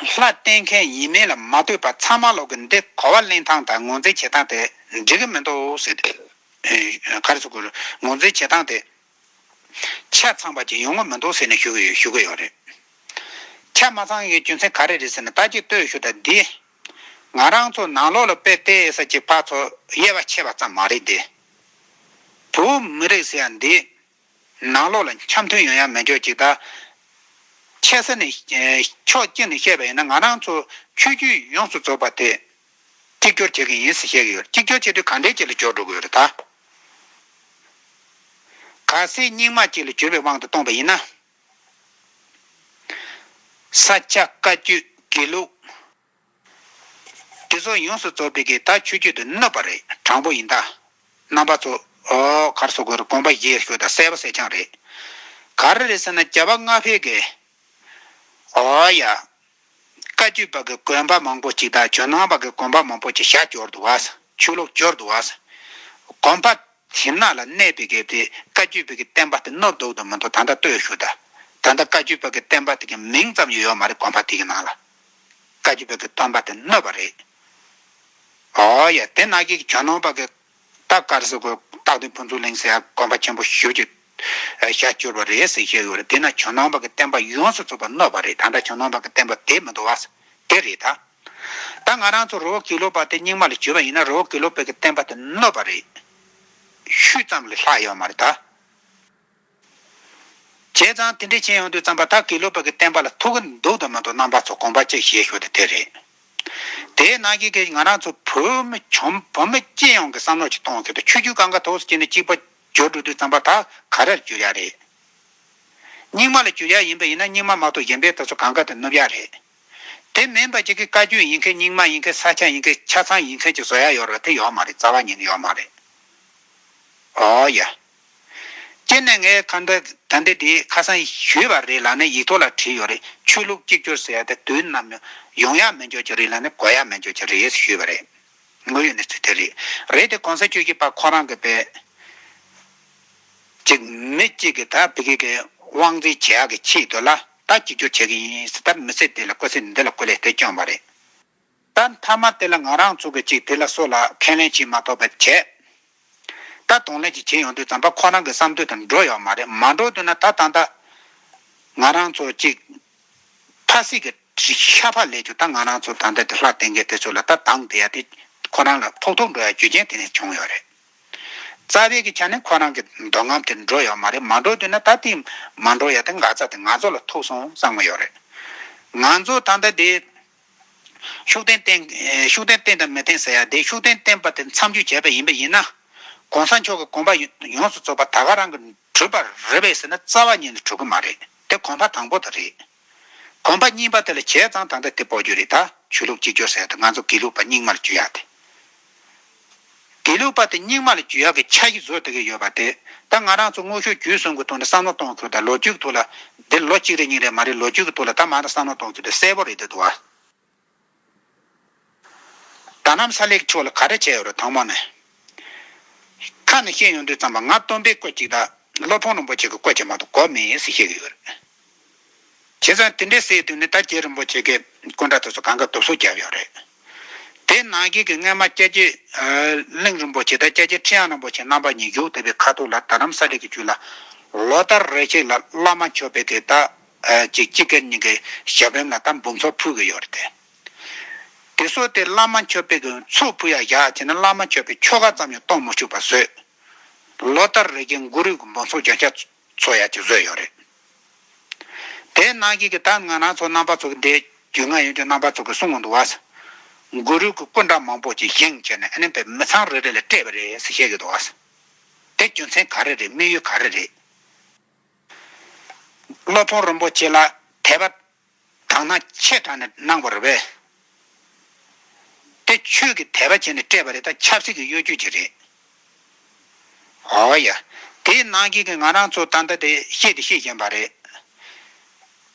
A: ལྷ་བསྟེན་མཁན་ཡིན་མིན་ལ་མ་ལྟོས་པར་ཚང་མ་ལོག་གི་འདི་གོ་བ་གླེང་སྟངས་དང་ངོ་འཛིན་བྱེད་སྟངས་དེ་འགྲིག་གི་མི་འདུག་ཟེར་ཏེ། ཁ་རེ་ཚུགས་ཁུལ་ངོ་འཛིན་བྱེད་སྟངས་དེ། ཆ་ཚང་པ་ཅིག་ཡོང་གི་མི་འདུག་ཟེར་ནས་ཞུ་གི་ཡོད་རེད། ཆ་མ་ཚང་བའི་རྒྱུ་མཚན་ག་རེ་རེད་ཟེར་ན་ལྟ་ཅིག་ལྟོས་ཞུ་དང་འདི། ང་རང་ཚོ་ནང་ལོག་ལ་དཔེ་ལྟས་ས་ཅིག་ཕར་ཚོ་དབྱེ་བ་ཕྱེ་བ་ཙམ་མ་རེད་དེ། བོད་མི་རིགས་ཟེར་ཡ་འདི། ནང་ལོགས་ལ་འཆམ་མཐུན་ཡོང་ཡ་མི་འཇོག་ཅིག་ད། ཆེ་ས་ནས་ཕྱོགས་གཅིག་ནས་བཤད་པ་ཡིན་ན་ང་རང་ཚོ་ཆོས་བརྒྱུད་ཡོངས་སུ་རྫོགས་པ་དེ། གཅིག་གྱོར་བྱེད་ཀྱི་ཡིན་ཟེར་བཤད་ཀྱི་ཡོད་རེད་གཅིག་གྱོར་བྱེད་དུས་གང་དྲན་ཅིག་ལ་འཇོག་འགྲོ་གི་ཡོད་རེད་ད། ག་སའི་སྙིང་མ་ཅིག་ལ་གྱུར་པའི་དབང་དུ་གཏོང་པ་ཡིན་ན། ས་ཆ་བཀའ་བརྒྱུད་དགེ་ལུགས། དེ་ཚོ་ཡོངས་སུ་རྫོགས་པའི་གིས་ད་ཆུ་རྒྱུད་དུ་གནོད་པ་རེད་དྲང་པོ་ཡིན་ད། རྣམ་པ་ཚོ། གར་སོགས་གུ་རུ་དགོངས་པ་བཞེས་ཞོར་དང་གསལ་བ་གསལ་རྐྱང་རེད། གར་རེད་ཟེར་ན་བྱ་བ་སྔ་ཕེའི་གི། ཨོ་ཡ། བཀའ་བརྒྱུད་པ་གི་གོན་པ་མང་པོ་ཅིག་དང་ཇོ་ནང་པ་གི་གོན་པ་མང་པོ་ཅིག་ཞྭ་སྐྱོར་དུ་བ། ཆུ་ལོག་སྐྱོར་དུ་བ། གོན་པ། ཞིམ་ནག་ལ་གནས་པའི་གི་དེ་བཀའ་བརྒྱུད་པའི་གི་བསྟན་པ་དེ་གནོད་བཟློག་དུ་མི་འདུག་ད་ད་ལྟོས་ཞོར་དང། ད་ད་བཀའ་བརྒྱུད་པ་གི་བསྟན་པ་དེ་གི་མིང་ཙམ་ཡོད་ཡོད་མ་རེད་གོན་པ་དེ་གི་ནང་ལ། བཀའ་བརྒྱུད་པའི་གི་སྟོན་པ་དེ་གནོད་པ་རེད། ཨོ་ཡ་དེ་ནག་གི་གྱ་ནོམ་པ་གི་སྟག་དཀར་ཟེར་གོ་སྟག་དེ་ཕུན་ཚུགས་གླིང་ཟེར་དགོན་པ་ཆེན་པོ་བཞི་བརྒྱུད་ཞག་བཅུར་བ་རེད་ཟེར་བཤད་གི་ཡོད་རེད་དེ་ནག་གྱ་ནོམ་པ་གི་བསྟན་པ་ཡོངས་སུ་རྫོགས་པ་གནོད་པ་རེད་ད་འདྲ་གྱ་ནོམ་པ་གི་བསྟན་པ་དེ་མི་འདུག་བ་དེ་རེད་ད། ད་ང་རང་ཚོ་རོ་ཀི་ལོ་པ་དེ་རྙིང་མ་ལ་བྱོས་པ་ཡིན་ན་རོ་ཀི་ལོ་པའི་གི་བསྟན་པ་དེ་གནོད་པ་རེད། ཤུལ་ཙམ་ལས་ལྷག་ཡོད་མ་རེད་ད། བྱས་ཙང་དེ་འདྲའི་བྱེད་ཡོང་དུས་བརྩམས་པ་དག་གིས་ཀླུ་པགས་ཀྱི་བསྟན་པ་ལ་ཐུག་གི་འདུག་དང་མི་འདུག་རྣམ་པ་ཚོ་གོམས་པ་གཅིག་བྱེད་ཞོར་དུ་དེ་རེད་དེའི་ནང་གི་གི་ང་རང་ཚོ་བོད་མི་ཆོམ་བོད་མི་སྤྱི་ཡོངས་ཀྱི་བསམ་བློ་གཅིག་གཏོང་ཞོར་དུ་ཆོས་བརྒྱུད་གང་ག་ཐོག་སུ་སྐྱེས་ནས་གཅིག་པ་སྦྱོར་འགྲོ་དུས་བརྩམས་པ་དག་ག་རེར་གྱུར་ཡག་རེད། རྙིང་མ་ལ་གྱུར་ཡག་ཡིན་པ་ཡིན་ན་རྙིང་མ་མ་གཏོགས་གཞན་པའི་དག་ཚོ་གང་ག་དུ་ནུབ་ཡག་རེད། དེ་མིན་པ་གཅིག་གི་བཀའ་བརྒྱུད་ཡིན་མཁན་རྙིང་མ་ཡིན་མཁན་ས་ཆ་ཡིན་མཁན་ཆ་ཚང་ཡིན་མཁན་གཅིག་བཟོ་ཡག་ཡོད་རེད་དེ་ཡོག་མ་རེད་རྩ་བ་ཉིད་ནས་ཡོག་མ་རེད། ཨོ་ཡ། སྤྱིར་ནས་ངའི་ཁ་འདྲ་ད་འདྲ་དེ་ཁ་སང་ཞུས་པ་རེད་ལ་ནས་ཡིག་ཐོག་ལ་བྲིས་ཡོད་རེད་ཆོས་ལུགས་གཅིག་གྱུར་ཟེར་ཡ་དེ་དུས་ནམ་ཡང་ཡོང་ཡག་མི་འཇོག་གྱི་རེད་ལ་ནས་གོ་ཡག་མི་འཇོག་གྱི་རེད་ཞུས་པ་རེད། དངོས་ཡོད་ནས་ཚུལ་དེ་རེད་རེད་དེ་གོང་ས་ཆོས་ཀྱི་པ་ཁོ་རང་གི་པས་ཅིག་མི་གཅིག་གི་ད་བི་གི་གི་དབང་འཛིན་བྱེད་ཡག་གི་ཆེད་དུ་ལ་ད་གཅིག་གྱུར་བྱེད་གི་ཡིན་ཟེར་ད་མི་ཚེ་འདི་ལ་བཀོད་ཚེ་འདི་ལ་བཀོད་ལས་དེ་སྐྱོན་པ་རེད། ད་མཐའ་མ་དེ་ལ་ང་རང་ཚོ་གི་ཅིག་དེ་ལ་སོགས་ལ་ཁས་ལེན་བྱེད་མ་ཐོབ་པ་བྱས། ད་དོང་ལེན་ཅིག་བྱེད་ཡོང་དུས་རྩམ་པ་ཁོ་རང་གི་བསམ་འདོད་དང་འགྲོ་ཡོང་མ་རེད་མ་འགྲོ་འདོད་ན་ད་ད་ད། ང་རང་ཚོ་ཅིག། ཕ་སྲིད་ཀྱི་ཤ་ཕག་ལས་ཀྱང་ད་ང་རང་ཚོ་ད་ལྟ་དེ་ལྷ་གཏན་འཁེལ་དེ་ཚོ་ལ་ད་སྡང་དེ་ཡ་དེ། ཁོ་རང་ལ་ཕོག་ཐུག་འགྲོ་ཡ་རྒྱུ་རྐྱེན་དེ་ནས་བྱུང་ཡོད་རེད། རྩ་བའི་གི་ཆ་ནས་ཁོ་རང་གི་འདོད་རྔམ་དེ་འགྲོ་ཡོང་མ་རེད་མ་འགྲོ་འདོད་ན་ད་དེ་མ་འགྲོ་ཡ་དེ་འགག་རྩ་དེ་ང་ཚོ་ལ་ཐུག་སོང་བསམ་གི་ཡོད་རེད། ང་ཚོ་ད་ད་དེ། ཤུགས་ལྡན་བསྟེན། ཤུགས་ལྡན་བསྟེན་དང་མི་བསྟེན་ཟེར་ཡ་དེ་ཤུགས་ལྡན་བསྟེན་པ་དེ་མཚམས་འཇོག་བྱས་པ་ཡིན་པ་ཡིན་ན། གོང་ས་མཆོག་གི་དགོངས་པ་ཡོངས་སུ་རྫོགས་པ་ད་ག་རང་གི་གྲུབ་པར་རེ་བས་ཟེར་ན་རྩ་བ་ཉིད་ནས་གྲུབ་ཀྱི་མ་རེད་དེ་གོང་པ་དང་པོ་དེ་རེད། གོང་པ་གཉིས་པ་དེ་ལ་བྱས་ཙང་ད་ལྟ་དེ་སྤོ་རྒྱུ་རེད་ད་ཆོས་ལུགས་གཅིག་གྱུར་ཟེར་ཡ་དེ་ང་ཚོ་དགེ་ལུགས་པ་རྙིང་མར་གྱུར་ཡ་དེ། དགེ་ལུགས་པ་དེ་རྙིང་མ་ལ་རྒྱུས་ཡག་གི་ཆ་ཞིག་བཟོ་ཐུབ་ཀྱི་ཡོད་པ་དེ་ད་ང་རང་ཚོ་དངོས་ཤུགས་རྒྱུན་སྲུང་གི་ཐོག་ནས་བསམ་བློ་གཏོང་ཐུབ་ད་ལོ་རྒྱུས་ཀྱི་ཐོག་ལ་འདིར་ལོ་གཅིག་རེ་གཉིས་རེ་མ་རེད་ལོ་རྒྱུས་ཀྱི་ཐོག་ལ་ད་མ་ད་བསམ་བློ་གཏོང་ཐུབ་ད་གསལ་པོ་རེད་འདུག་བ། ད་གནམ་ས་ལེགས་ཕྱོགས་ལ་ག་རེ་བྱས་ཡོད་རེད་དང་མོ་ནས་ཁ་ནས་བཤད་ཡོང་དུས་ཙམ་པ་ང་སྟོན་པས་བཀོད་ཅིག་ད་སློབ་ཕོང་རིན་པོ་ཆེ་གི་བཀོད་ཆེ་མ་གཏོགས་གོ་མེད་ཡིན་ཟེར་བཤད་ཀྱི་ཡོད་རེད། བྱས་ཙང་དེ་འདྲའི་སའི་དུས་ནས་ད་ཀྱེ་རིན་པོ་ཆེ་གི་སྐུ་འདྲ་དེ་ཚོ་གང་གི་དུབ་སོ་བརྒྱབ་ཡོད་རེད། དེ་ནང་བཞིན་གྱི་སྔན་མ་སྐྱ་ཀྱེ་གླིང་རིན་པོ་ཆེ་དང་སྐྱ་ཀྱེ་ཁྲི་ཡང་རིན་པོ་ཆེ་རྣམ་པ་གཉིས་བཞུགས་བསྡད་པའི་ཁ་ཐུག་ལ་ད་རམ་ས་རིགས་ཀྱི་བཅུད་ལ་ལོ་ལྟར་རེ་ཞིག་ལ་བླ་མ་མཆོད་དཔལ་གྱི་ད་ཅིག་ཅིག་གེར་ཉིན་གྱི་ཞབས་རིམ་ལ་ད་འབུམ་ཚོགས་ཕུལ་གྱི་ཡོད་རེད། དེ་སོགས་དེ་བླ་མ་མཆོད་དཔལ་གྱི་ཚོགས་ཕུལ་ཡག་ཡག་བྱས་ན་བླ་མ་མཆོད་དཔལ་ཆོ་ག་ཙམ་ཡང་གཏོང་མི་ཆུག་པ་བཟོས། ལོ་ལྟར་རེ་ཞིག་མགོ་རུས་ཀྱི་འབུམ་ཚོགས་སྦྱང་བྱ། ཚོ་ཡག་གཅིག་བཟོས་ཡོད་རེད། དེའི་ནང་ཞིག་གི་ད་ང་རང་ཚོ་རྣམ་པ་ཚོ་གི་འདས་རྒྱུ་ང་ཡོན་ཅུ་རྣམ་པ་ཚོ་གི་གསུང་དུ་བ། གུ་རུ་གི་སྐུ་འདྲ་མང་པོ་ཅིག་བཞེངས་བྱས་ནས་ཨ་ནེ་པའི་མི་ཚང་རེ་རེ་ལ་སྤྲད་པ་རེད་ཟེར་བཤད་ཡོད་དུ་བ། དེ་རྒྱུ་མཚན་ག་རེ་རེད་དམིགས་ཡུལ་ག་རེ་རེད། སློབ་དཔོན་རིན་པོ་ཆེ་ལ་དད་པ་དག་སྣང་ཆེས་དྲག་ནས་སྣང་བར་བས། དེ་ཆོས་ཀྱི་དད་པ་བྱས་ནས་སྤྲད་པ་རེད་ད་ཆབ་སྲིད་ཀྱི་གཡོ་སྒྱུ་གྱི་རེད། ཨོ་ཡ། དེ་སྣང་གི་ང་རང་ཚོ་ད་ལྟ་དེ་ཤེས་དེ་ཤེས་བཞིན་པ་རེད།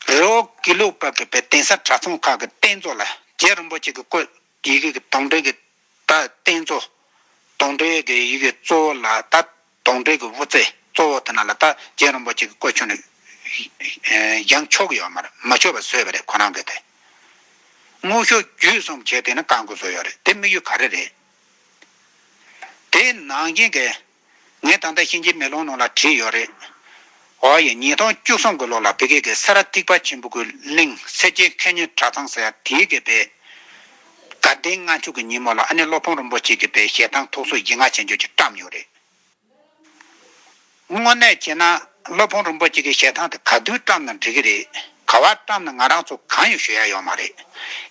A: རི་བོ་དགེ་ལུགས་པ་གི་པའི་གདན་ས་གྲྭ་ཚང་ཁག་གི་རྟེན་གཙོ་ལ་རྗེ་རིན་པོ་ཆེ་གི་བཀོད་ཡི་གེ་གི་དོང་སྤྲུག་གི་ད་རྟེན་གཙོ། དོང་སྤྲུག་གི་ཡི་གེ་གཙོ་བོ་ལ་ད་དོང་སྤྲུག་གི་བུ་ཚེ་གཙོ་བོ་དེ་ན་ལ་ད་རྗེ་རིན་པོ་ཆེ་གི་བཀོད་ཆོག་ནི། ཡང་ཆོག་ཡོད་མར་མ་ཆོག་པ་བཟོས་པ་རེད་ཁོ་རང་གི་དེ། དངོས་ཤོག་བརྒྱུད་གསུམ་བྱས་དེ་ནི་བཀག་འགོ་བཟོས་ཡོད་རེད་དེ་དམིགས་ཡུལ་ག་རེ་རེད། དེའི་ནང་རྐྱེན་གི། ངས་ད་ལྟ་གཤིན་རྗེའི་མེ་ལོང་ནང་ལ་བྲིས་ཡོད་རེད། འོ་ཡ་ཉིས་སྟོང་བཅུ་གསུམ་གྱི་ལོ་ལ་བྷི་གྷེ་གྷེ་ས་ར་ཐིག་པ་ཆེན་པོ་ཀུའི་གླིང་སེར་སྐྱའི་མཁས་སྙན་གྲྭ་ཚང་ཟེར་ཡག་དེའི་གི་པའི་དགའ་ལྡན་ལྔ་མཆོག་གི་ཉིན་མོ་ལ་ཨ་ནེ་བློ་ཕོངས་རིན་པོ་ཆེ་གི་པའི་ཞལ་ཐང་ཐུགས་གསོ་ཡིད་མངའ་བྱེད་འཇོག་ཅིག་བཀྲམས་ཡོད་རེད། དངོས་གནས་བྱས་ན་བློ་ཕོངས་རིན་པོ་ཆེ་གི་ཞལ་ཐང་དེ་ག་དུས་བཀྲམས་ན་འགྲིག་གི་རེད། ག་བར་བཀྲམས་ན་ང་རང་ཚོ་གང་ཡང་ཞུ་ཡ་ཡོད་མ་རེད།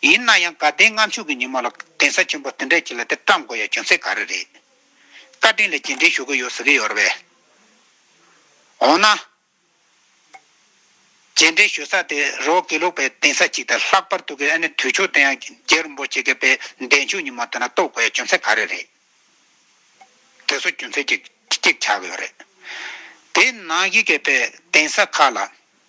A: ཡིན་ན་ཡང་དགའ་ལྡན་ལྔ་མཆོག་གི་ཉིན་མོ་ལ་གདན་ས་ཆེན་པོ་དེ་འདྲའི་ཆེ་ལ་དེ་བཀྲམས་དགོས་ཡ་བྱུང་ཚེ་ག་རེ་རེད། བཀའ་དྲིན་ལ་རྗེས་འབྲེལ་ཞུ་གི་ཡོད་ཟེར་གི་ཡོད་རེད་པས། འོ་ན། རྗེས་འབྲེལ་ཞུ་ས་དེ་རོ་དགེ་ལུགས་པའི་གདན་ས་ཅིག་དང་ལྷག་པར་དུ་གི་ཨ་ནི་དུས་ཆོག་དེ་ཡང་རྒྱལ་རིན་པོ་ཆེ་གི་དཔལ་ལྡན་ཆོས་ཉི་མ་དེ་ན་གཏོགས་དགོས་ཡ་རྒྱུ་མཚན་ག་རེ་རེད། དེ་ཚོ་རྒྱུ་མཚན་གཅིག་ཅིག་ཆགས་གི་ཡོད་རེད། དེའི་ནང་གི་གི་དཔལ་གདན་ས་ཁག་ལ་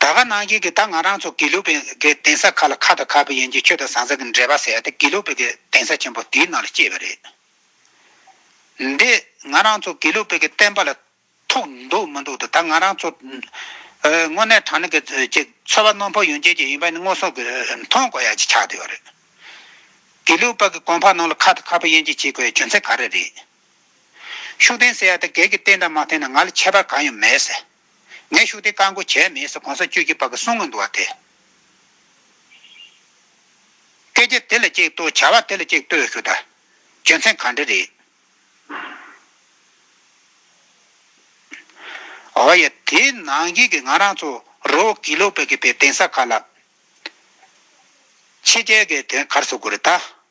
A: ད་ག་ནང་བཞིན་གྱི་ད་ང་རང་ཚོ་དགེ་ལུགས་པའི་གི་དེང་སང་ཁ་ལ་ཁ་དང་ཁ་བུ་ཡན་གྱི་ཆོས་དང་ཟང་ཟིང་གི་འབྲེལ་བ་ཟེར་ཡ་དེ་དགེ་ལུགས་པའི་གི་དེང་སང་ཆེན་པོ་དེའི་ནང་ལ་སྐྱེས་པ་རེད། འདི་ང་རང་ཚོ་དགེ་ལུགས་པའི་གི་བསྟན་པ་ལ་ཐུག་འདུག་མི་འདུག་ད་ང་རང་ཚོ་དངོས་གནས་དྲང་གནས་གི་གི་ཚོ་བ་ནོར་འཕོ་ཡོང་ཆེད་ཀྱི་ཡིན་པ་ནི་སྔོ་སོང་གི་མཐོང་དགོས་ཡ་གྱི་ཆགས་བསྡད་པ་རེད། དགེ་ལུགས་པ་གི་གོང་འཕགས་ནང་ལ་ཁ་དང་ཁ་བུ་ཡན་གྱི་བྱེད་དགོས་ཡ་རྒྱུ་མཚན་ག་རེ་རེད། ཤུགས་ལྡན་ཟེར་ཡ་ད་གལ་གྱི་བསྟན་དང་མ་བསྟན་ན་ང་ལ་ཁྱད་པར་གང་ཡང་མེད་ཟེར། ངས་ཤུགས་ལྡན་བཀའ་འགོ་བྱས་མེད་ཟེར་གོང་ས་བཅུ་གྱི་བར་གྱི་གསུང་ངོ་འདུག་བ་དེ། སྐད་ཆ་དེ་ལ་གཅིག་ལྟོས་བྱ་བ་དེ་ལ་གཅིག་ལྟོས་ཞུ་ད། རྒྱུ་མཚན་གང་འདྲ་རེད། འོ་ཡ་དེ་ནང་བཞིན་གྱི་ང་རང་ཚོ་རོ་གི་ལོ་པ་གི་པའི་གདན་ས་ཁག་ལ། ཕྱི་རྒྱལ་གྱི་དོན་གར་བཟོ་དགོས་རེད་ད།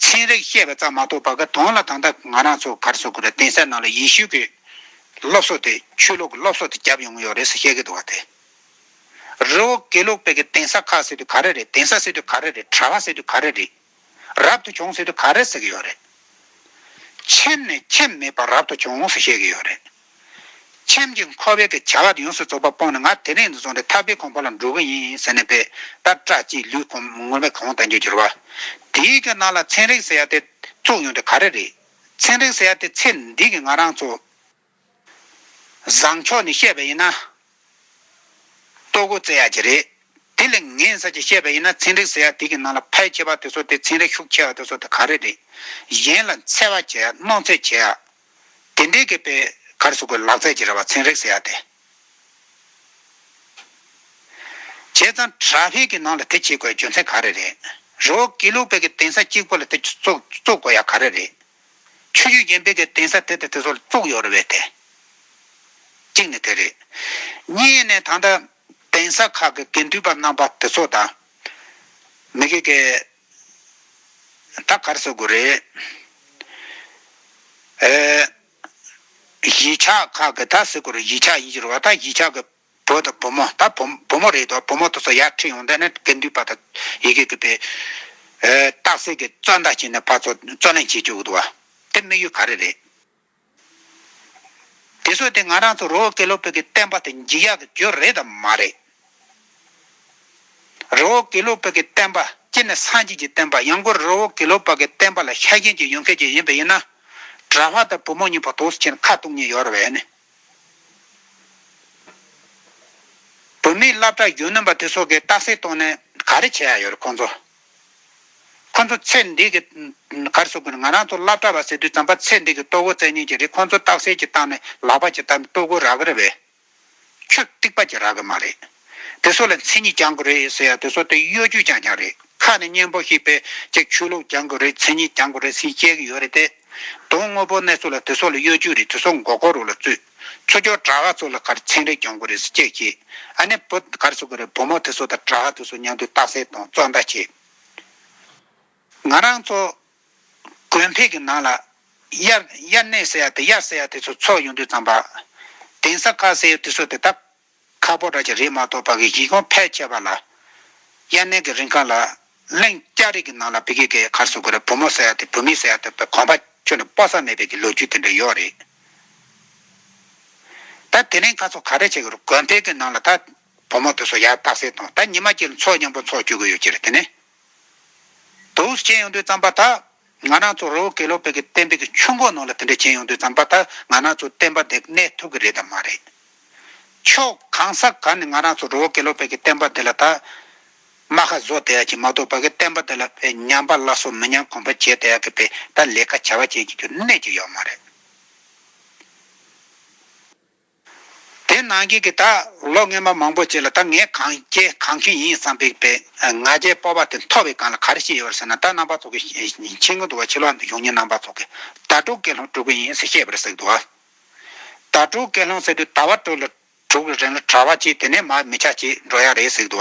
A: ཚན་རིག་བཤད་པ་ཙམ་མ་གཏོགས་བ་ཀ་དོན་ལ་དང་ད་ང་རང་ཚོ་གར་སོ་ཁུ་ར་གདན་ས་ནང་ལ་ཡེ་ཤུ་ཀི་སློབ་གསོ་དེ་ཆོས་ལུགས་ཀི་སློབ་གསོ་དེ་རྒྱབ་ཡོང་གི་ཡོག་རེད་ས་བཤད་ཀི་འདུག་བ་དེ་རི་བོ་ཀི་ལུགས་པེ་ཀི་གདན་ས་ཁག་ཟེར་དུས་ག་རེ་རེད་གདན་ས་ཟེར་དུས་ག་རེ་རེད་གྲ་བ་ཟེར་དུས་ག་རེ་རེད་རབ་ཏུ་བྱུང་ཟེར་དུས་ག་རེ་ཟེར་གི་ཡོག་རེད་ཁྱེམས་ནས་ཁྱེམས་མེད་པ་རབ་ཏུ་བྱུང་ཟེར་བཤད་ཀི་ཡོག་རེད། ཁྱིམ་གྱི་འཁོར་བའི་གི་བྱ་བ་དེ་ཡོངས་སུ་རྫོགས་པ་སྤོང་ནས་ང་དེ་རིང་དུ་སོང་སྟེ་ཐར་པའི་ཁང་བ་ལ་འགྲོ་གི་ཡིན་ཟེར་ནས་པའི་ལྟར་སྐྲ་གཅིག་ལུས་གོམས་ངོ་མས་གང་བལྟ་རྒྱུར་གྱུར་བ། དེའི་གི་ནང་ལ་ཚན་རིག་ཟེར་ཡ་དེ་བཙུགས་ཡོང་དེ་ག་རེ་རེད། ཚན་རིག་ཟེར་ཡ་དེ་ཚེ་འདི་གི་ང་རང་ཚོ། བཟང་མཆོག་ནས་བཤད་པ་ཡིན་ན། ལྟོ་གོས་བཙལ་ཡ་གྱི་རེད། དེ་ལས་ངན་ས་ཅི་བཤད་པ་ཡིན་ན་ཚན་རིག་ཟེར་ཡ་དེ་གི་ནང་ལ་ཕལ་ཆེ་བ་དེ་ཚོ་དེ་ཚན་རིག་ཤུགས་ཆེ་བ་དེ་ཚོ་དེ་ག་རེ་རེད། གཞན་ལ་འཚེ་བ་བྱེད་ཡ་སྣང་ཚེ་བྱེད་ཡ། དེ་འདྲའི་གེགས་པའི་གར་སོགས་ཀྱི་ལག་རྩལ་གྱི་རེ་བ་ཚན་རེག་ཟེར་ཡག་སྟེ། བྱས་ཙང་དྲ་བྷེ་གི་ནང་ལ་དེ་བྱེད་དགོས་ཡ་རྒྱུ་མཚན་ག་རེ་རེད། རི་བོ་དགེ་ལུགས་བེ་གི་དེང་ས་གཅིག་པོ་ལ་དེ་བཙོག་དགོས་ཡ་ག་རེ་རེད། ཆུ་རྒྱུས་རྒྱན་བེ་གི་དེང་ས་དེ་དང་དེ་སོགས་ལ་བཙོག་ཡོག་རེ་བས་ཏེ། གཅིག་ནི་དེ་རེད། གཉིས་ནི་ད་ལྟ་དེང་ས་ཁག་གི་དགེ་འདུན་པ་རྣམ་པ་དེ་ཚོ་དང། མི་གེ་གེ། ད་གར་གསོད་དགོས་རེད། གཞིས་ཆགས་ཁག་གི་ད་གཟིགས་སྐོར་གཞིས་ཆགས་ཡིན་ཕྱིར་བ་ད་གཞིས་ཆགས་ཀྱི་བུ་དང་བུ་མོ་ད་བུ་མོ་རེད་དོ་བུ་མོ་དོ་སོགས་ཡར་ཁྲིད་ཡོང་དོན་ནི་དགེ་འདུན་པ་དང་ཡི་གེ་གི་པའི་སྟག་གཟིགས་ཀྱི་གཙོས་མདའ་བྱིན་ནི་ཕ་ཚོ་རྩོད་ལེན་བྱེད་བཅུག་གི་འདུག་བ་དེ་དམིགས་ཡུལ་ག་རེ་རེད། དེ་ཚོ་དེ་ང་རང་ཚོ་རོ་ཀེ་ལོ་བོད་ཀྱི་བསྟན་པ་དེ་འཇིག་ཡག་གི་རྒྱུ་རེད་དམ་མ་རེད། རོ་ཀེ་ལོ་བོད་ཀྱི་བསྟན་པ་སྤྱིར་ནི་སངས་རྒྱས་ཀྱི་བསྟན་པ་ཡང་སྒོར་རོ་ཀེ་ལོ་བོད་ཀྱི་བསྟན་པ་ལ་ཤ་རྒྱན་གྱི་ཡོན་ཁེ་གྱི་ཡིན་པ་ཡིན་ན། གྲྭ་བྷ་དང་བུ་མོ་གཉིས་པོ་དོགས་སུ་ཕྱིན་ནས་ཁ་གཏུགས་ཉེན་ཡོད་རེད་ནི། བོད་མིའི་བླ་བྲག་གཞོན་ནུ་པ་དེ་ཚོ་གིས་རྟགས་གསལ་བཏོན་ནས་ག་རེ་བྱས་ཡ་ཡོད་རེད་ཁོང་ཚོ། ཁོ་ཚོ་ཚེ་འདི་གི་གར་སོགས་ཀྱིས་ང་རང་ཚོ་བླ་གྲྭ་བ་ཟེར་དུས་བརྩམས་པ་ཚེ་འདི་གི་ལྟོ་གོས་བཙལ་ཉེན་གྱི་རིགས་ཁོ་ཚོ་རྟགས་གསལ་གྱི་བཏང་ནས་ལག་པ་གྱིས་བཏབ་ནས་ལྟོ་གོས་རག་གི་རེད་བས། ཆུ་གཏིགས་པ་གྱིས་རག་གི་མ་རེད། དེ་ཚོ་ལ་མཚན་ཉིད་རྒྱང་གི་རེད་ཟེར་ཡང་དེ་ཚོ་དེ་གཡོ་སྒྱུས་རྐྱང་རྐྱང་རེད་ཁ་ནས་སྙན་པོ་ཞིག་པས་ཅིག་ཆོས་ལུགས་རྒྱང་གི་རེད་མཚན་ཉིད་རྒྱང་གི་རེད་ཟིན་བཤད་གི་ཡོད་རེད་དེ། དོན་དངོས་པོ་གནས་ཚུལ་ལ་དེ་ཚོ་ལ་གཡོ་སྒྱུས་རེད་དེ་ཚོ་མགོ་སྐོར་རུ་ལ་བཙུད། ཆུ་སྐྱོར་བྲག་ཧ་ཚོ་ལ་གར་ཚན་རེ་གྱོང་གི་རེད་ཟེར་ཅེས་བཤད། ཨ་ནེ་བུ་གར་ཚོ་གི་རེད་བུ་མོ་དེ་ཚོ་དང་བྲག་ཧ་དེ་ཚོ་མཉམ་དུ་རྟགས་གསལ་དང་བཙོག་འདྲ་བྱས། ང་རང་ཚོ་གོན་ཕེབས་ཀྱི་ནང་ལ། དབྱར་གནས་ཟེར་ཡ་དེ་དབྱར་ཟེར་ཡ་དེ་ཚོ་ཚོགས་ཡོང་དུས་ཙམ་པ། དེང་སང་ཁ་ཟེར་ཡོད་དེ་ཚོ་དེ་དག་ཁ་ཕོ་སྒྲ་ཅི་རིགས་མ་གཏོགས་བག་གི་གཞི་གོང་འཕེལ་ཆེ་བ་ལ། དབྱར་གནས་ཀྱི་རིང་ཁ་ལ་གླིང་སྐྱ་རིགས་ཀྱི་ནང་ལ་བི་གི་གའི་གར་སོགས་དགོས་ར་བུ་མོ་བསད་ཡ་ཐེ་བུ་མི་བསད་ཡ་ཐུབ་པའི་གོམ་པ་ཁྱོད་ལ་སྤོ་ས་མེད་པའི་གི་ལོ་རྒྱུས་དེ་འདྲ་ཡོད་རེད། ད་དེ་རིང་ཁ་སོགས་ག་རེ་བྱེད་དགོས་ར་གོན་འཕེལ་གི་ནང་ལ་ད་བུ་མོ་དེ་སོགས་ཡར་བཏགས་སེ་དང་ད་ཉི་མ་གྱི་ལ་འཚོགས་སྙམ་པོ་འཚོགས་བཅུག་གི་ཡོད་ཅི་རེད་དེ་ནས་དུས་ཆེན་ཡོང་དུས་བརྩམས་པ་ད། ང་རང་ཚོ་རོ་ཀེ་ལོ་པེ་གི་བསྟན་པའི་གི་ཆུ་འགོ་ནང་ལ་དེ་འདྲ་བྱེད་ཡོང་དུས་ཙམ་པ་ད་ང་རང་ཚོ་བསྟན་པ་འདི་གནས་ཐུབ་གི་རེད་དམ་མ་རེད། ཕྱོགས་གང་ས་ག་ནས་ང་རང་ཚོ་རོ་ཀེ་ལོ་པེ་གི་བསྟན་པ་འདི་ལ་ད་རྨ་ཁ་བཟོ་བསྡད་ཡག་གི་མ་གཏོགས་པ་གི་བསྟན་པ་འདི་ལ་བས་ཉམས་པ་སླ་སོ་མི་ཉམས་གོམས་པ་བྱས་བསྡད་ཡག་གི་བས་ད་ལས་ཀ་བྱ་བ་བྱེད་ཀྱི་རྒྱུ་གནས་ཀྱི་ཡོག་མ་རེད། དེ་ནང་གི་གི་ད་ལོ་རྔན་པ་མང་པོ་བྱས་ལ་ད་ངས་གང་བྱས་གང་ཁེངས་ཡིན་བསམ་པའི་པའི་ང་རྒྱལ་སྤོབས་པ་དེ་མཐོ་བའི་སྒང་ལ་ག་རེ་བཤད་ཡོད་རེད་ཟེར་ན་ད་རྣམ་པ་ཚོ་གི་ཕྱི་རྒོལ་འདུག་བ་ཕྱི་ལོག་འདུག་ཡོང་ཉིན་རྣམ་པ་ཚོ་གི་ད་དཀྲུག་སྐད་ལྷོང་དཀྲུག་གི་ཡིན་ཟེར་བཤད་པ་རེད་ཟེར་གི་འདུག་ད་དཀྲུག་སྐད་ལྷོང་ཟེར་དུས་ད་བ་དཀྲུག་ལ་དཀྲུག་གི་རེད་ལ་གྲ་བ་གྱིས་དེ་ནས་མར་མི་ཆ་གྱིས་འགྲོ་ཡག་རེད་ཟེར་གི་འདུག་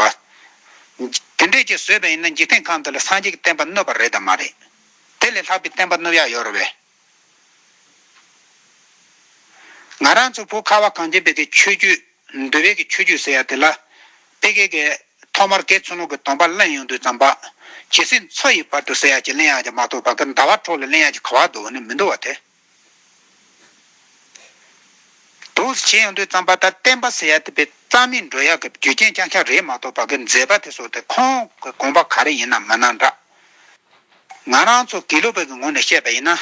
A: དེ་འདྲས་ཀྱིས་བཟོས་པ་ཡིན་ན་འཇིག་རྟེན་ཁམས་འདི་ལ་སངས་རྒྱས་ཀྱི་བསྟན་པ་གནོད་པ་རེད་དམ་མ་རེད་དེ་ལས་ལྷག་པའི་བསྟན་པ་གནོད་ཡག་ཡོད་རེད་བས། ང་རང་ཚོ་བོད་ཁ་བ་གངས་ཅན་པད་ཀྱི་ཆོས་བརྒྱུད། འདུལ་བའི་གི་ཆོས་བརྒྱུད་ཟེར་ཡ་དེ་ལ། དཔེ་གལ་གི། ཐོག་མར་གེ་མཚོན་ནོར་གི་དོམ་པ་གླེང་ཡོང་དུས་ཙམ་པ། ཇི་སྲིད་མཚོ་ཡི་བར་དུ་ཟེར་ཡ་གྱི་གླེང་ཡག་ཀྱང་མ་ཐོག་བར་གི་ཟླ་བ་འཕྲོག་ལས་གླེང་ཡག་གྱི་ཁ་བ་དོ་ནི་མི་འདུག་བ་དེ། དུས་བྱས་ཡོང་དུས་ཙམ་པ་ལྟར་བསྟན་པ་ཟེར་ཡ་དེ་བས་རྩ་མེད་འགྲོ་ཡག་གི་རྒྱུ་རྐྱེན་རྐྱང་ཆག་རེད་མ་ཐོག་བར་གི་མཛད་པ་དེ་སོགས་དེ་ཁོང་གི་དགོངས་པ་ག་རེ་ཡིན་ནམ་མ་གནང་དྲགས། ང་རང་ཚོ་དགེ་ལུགས་པ་གི་ངོ་ནས་བཤད་པ་ཡིན་ན།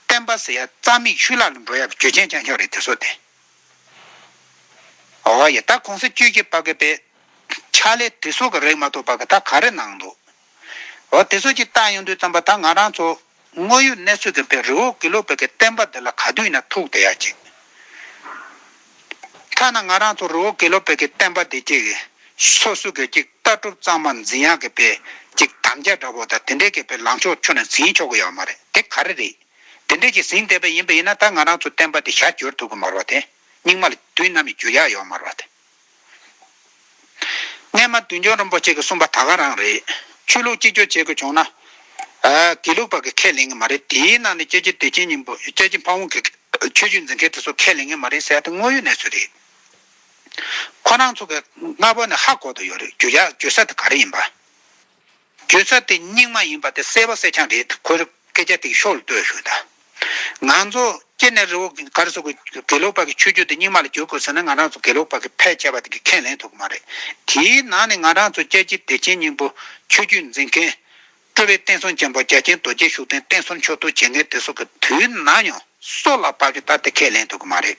A: བསྟན་པ་ཟེར་ཡ་རྩ་མིག་ཆུ་ལག་ལ་འགྲོ་ཡ་གི་ཇོ་ཆེན་བྱང་ཆུང་རེད་དེ་ཚོ་སྟེ། འོ་ཡ་ད་གོང་ས་བཅུ་གྱི་པ་གི་པའི་ཕྱག་ལས་དེ་ཚོ་གི་རེག་མ་ཐོབ་པ་གི་ད་ག་རེ་གནང་འདུག་འོ་དེ་ཚོ་གྱི་བལྟ་ཡོང་དུས་ཙམ་པ་ད་ང་རང་ཚོ་དངོས་ཡོད་གནས་ཚུལ་འདི་འདྲའི་རི་བོ་དགེ་ལུགས་པའི་གི་བསྟན་པ་འདི་ལ་ག་དུས་ན་ཐུག་བསྡད་ཡ་ཅིག། ཐ་ན་ང་རང་ཚོ་རི་བོ་དགེ་ལུགས་པའི་གི་བསྟན་པ་འདི་ཅིག་སོ་སོའི་གི་ཅིག་ལྟ་གྲུབ་གཙང་མ་འཛིན་ཡ་གི་པའི་ཅིག་དམ་བཅའ་འདྲ་བོ་དང་དེ་འདྲའི་གི་པའི་ལངས་ཕྱོགས་ཁྱོན་ནས་འཛིན་ཆོག་གི་ཡོད་མ་རེད་དེ་ག་རེ་རེད། དེ་འདྲའི་ཅིག་ཟིན་བསྡད་པ་ཡིན་པ་ཡིན་ན་ད་ང་རང་ཚོའི་བསྟན་པ་འདི་ཞར་བསྒྱུར་ཐུབ་གི་མ་རོ་དེ་སྙིགས་མ་ལ་དུས་ནམ་ཡིན་འགྱུར་ཡ་ཡོད་མ་རོ་དེ། སྔས་མ་བདུད་འཇོམས་རིན་པོ་ཆེ་གི་གསུངས་པ་ད་ག་རང་རེད། ཆོས་ལུགས་གཅིག་གྱུར་བྱེད་དགོས་བྱུང་ན། དགེ་ལུགས་པ་གི་ཁས་ལེན་གི་མ་རེད་དེའི་ནང་ནས་སྐྱེ་ཆེན་དུས་ཆེན་སྙིང་པོ་སྐྱེ་ཆེན་ཕ་བོང་གི་ཆོས་བརྒྱུད་འཛིན་མཁན་དེ་ཚོ་ཁས་ལེན་གི་མ་རེད་ཟེར་ཡ་དེ་དངོས་ཡོད་གནས་ཚུལ་རེད། ཁོ་རང་ཚོ་གི་སྔ་བོ་ནས་ཧ་གོ་དུ་ཡོད་རེད་རྒྱུ་ཡ་རྒྱུ་ས་དེ་ག་རེ་ཡིན་པ། བརྗོད་བྱ་དེ་སྙིང་མ་ཡིན་པ་དེ་གསལ་བ་གསལ་རྐྱང་རེད་ཁོས་སྐད་ཆ་དེ་གི་ཤོག་ལ་ལྟོས་ཞུ་ད། ང་ཚོ་སྐྱེ་ནས་རི་བོ་གར་སོགས་ཀྱི་དགེ་ལུགས་པ་གི་ཆོས་བརྒྱུད་དེ་སྙིང་མ་ལ་བསྒྱུར་དགོས་ཟེར་ན་ང་རང་ཚོ་དགེ་ལུགས་པ་གི་ཕལ་ཆེ་བ་དེ་གི་ཁས་ལེན་ཐུབ་ཀྱི་མ་རེད། དེའི་ནང་ནས་ང་རང་ཚོ་རྒྱལ་སྤྱིའི་བདེ་ཆེན་སྙིང་པོ་ཆོས་བརྒྱུད་འཛིན་མཁན། སྤྲུལ་བའི་བསྟན་སྲུང་ཆེན་པོ་རྒྱ་ཆེན་རྡོ་རྗེ་ཤུགས་ལྡན་བསྟན་སྲུང་མཆོག་ཐུགས་བྱེད་མཁན་དེ་སོགས་ཀྱི་དུས་ན་ཡང་སྲོག་ལ་བབ་ཀྱི་ད་དེ་ཁས་ལེན་ཐུབ་ཀྱི་མ་རེད།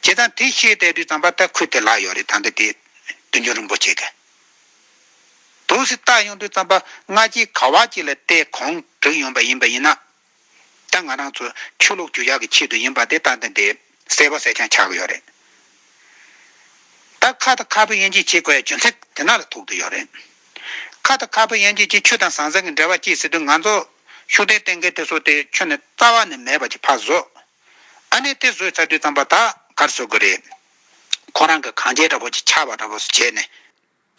A: བྱས་ཙང་དེ་ཤེས་བསྡད་དུས་ཙམ་པ་ད་ཁུལ་དེ་ལགས་ཡོད་རེད་ད་འདི་དེ། བདུད་འཇོམས་རིན་པོ་ཆེ་གི། དུ་སྲི་ད་ཡོང་དུས་རྩམ་པ་སྔ་རྗེས་ག་བ་ཅིག་ལ་བལྟས་གོང་དྲུག་ཡོང་པ་ཡིན་པ་ཡིན་ན། ད་ང་རང་ཚོ་ཆོས་ལུགས་ཇུས་བྱ་གི་ཆེད་དུ་ཡིན་པ་དེ་ད་འདི་འདྲའི་གསལ་བོ་གསལ་རྐྱང་ཆགས་གི་ཡོད་རེད། ད་ཁ་ད་ཁ་བོས་དབྱེ་འབྱེད་བྱེད་དགོས་ཡ་རྒྱུ་མཚན་དེ་ན་ལ་ཐུག་ཏུ་ཡོད་རེད། ཁ་ད་ཁ་བོས་དབྱེ་འབྱེད་ཀྱིས་ཆོས་དང་ཟང་ཟིང་གི་འབྲེལ་བ་བསྐྱེད་སྲིད་དུས་ང་ཚོ་ཤུགས་ལྡན་བསྟེན་མཁན་དེ་ཚོ་དེ་ཁྱོན་ནས་རྩ་བ་ནས་མེད་པ་ཅིག་ཕར་བཟོས། ཨ་ནས་དེ་བཟོས་ཚར་དུས་རྩམ་པ་ད་གར་བཟོ་དགོས་རེད། ཁོ་རང་གི་གངས་ཅན་འདྲ་པོ་ཆེ་ཆགས་པ་འདྲ་པོ་སུ་བྱས་ནས།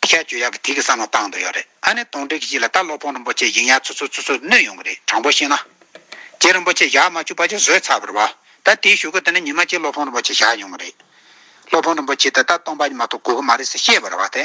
A: ཤ་རྒྱུས་ཡག་གི་དེ་གི་བསམ་བློ་བཏང་འདུག་ཡོད་རེད་ཨ་ནེ་དོང་སྤྲུག་གི་གཞི་ལ་ལྟ་སློབ་དཔོན་རིན་པོ་ཆེ་ཡིག་ཉར་ཚུར་ཚུར་ཚུར་ཚུར་བསྣུན་ཡོང་གི་རེད་དྲང་པོ་བཤད་ན། རྗེ་རིན་པོ་ཆེ་ཞག་མ་བཅུ་པ་ཆུ་བཟོས་ཚར་བར་བ་ད་དེའི་ཞུ་སྒོ་དེ་ནས་ཉི་མ་གཅིག་སློབ་དཔོན་རིན་པོ་ཆེ་བཞག་མྱོང་གི་རེད། སློབ་དཔོན་རིན་པོ་ཆེ་དེ་ད་སྟོང་པ་ཉི་མ་ཐོག་དགོས་ཀྱི་མ་རེད་ཟེར་ཤེས་བར་བ་དེ།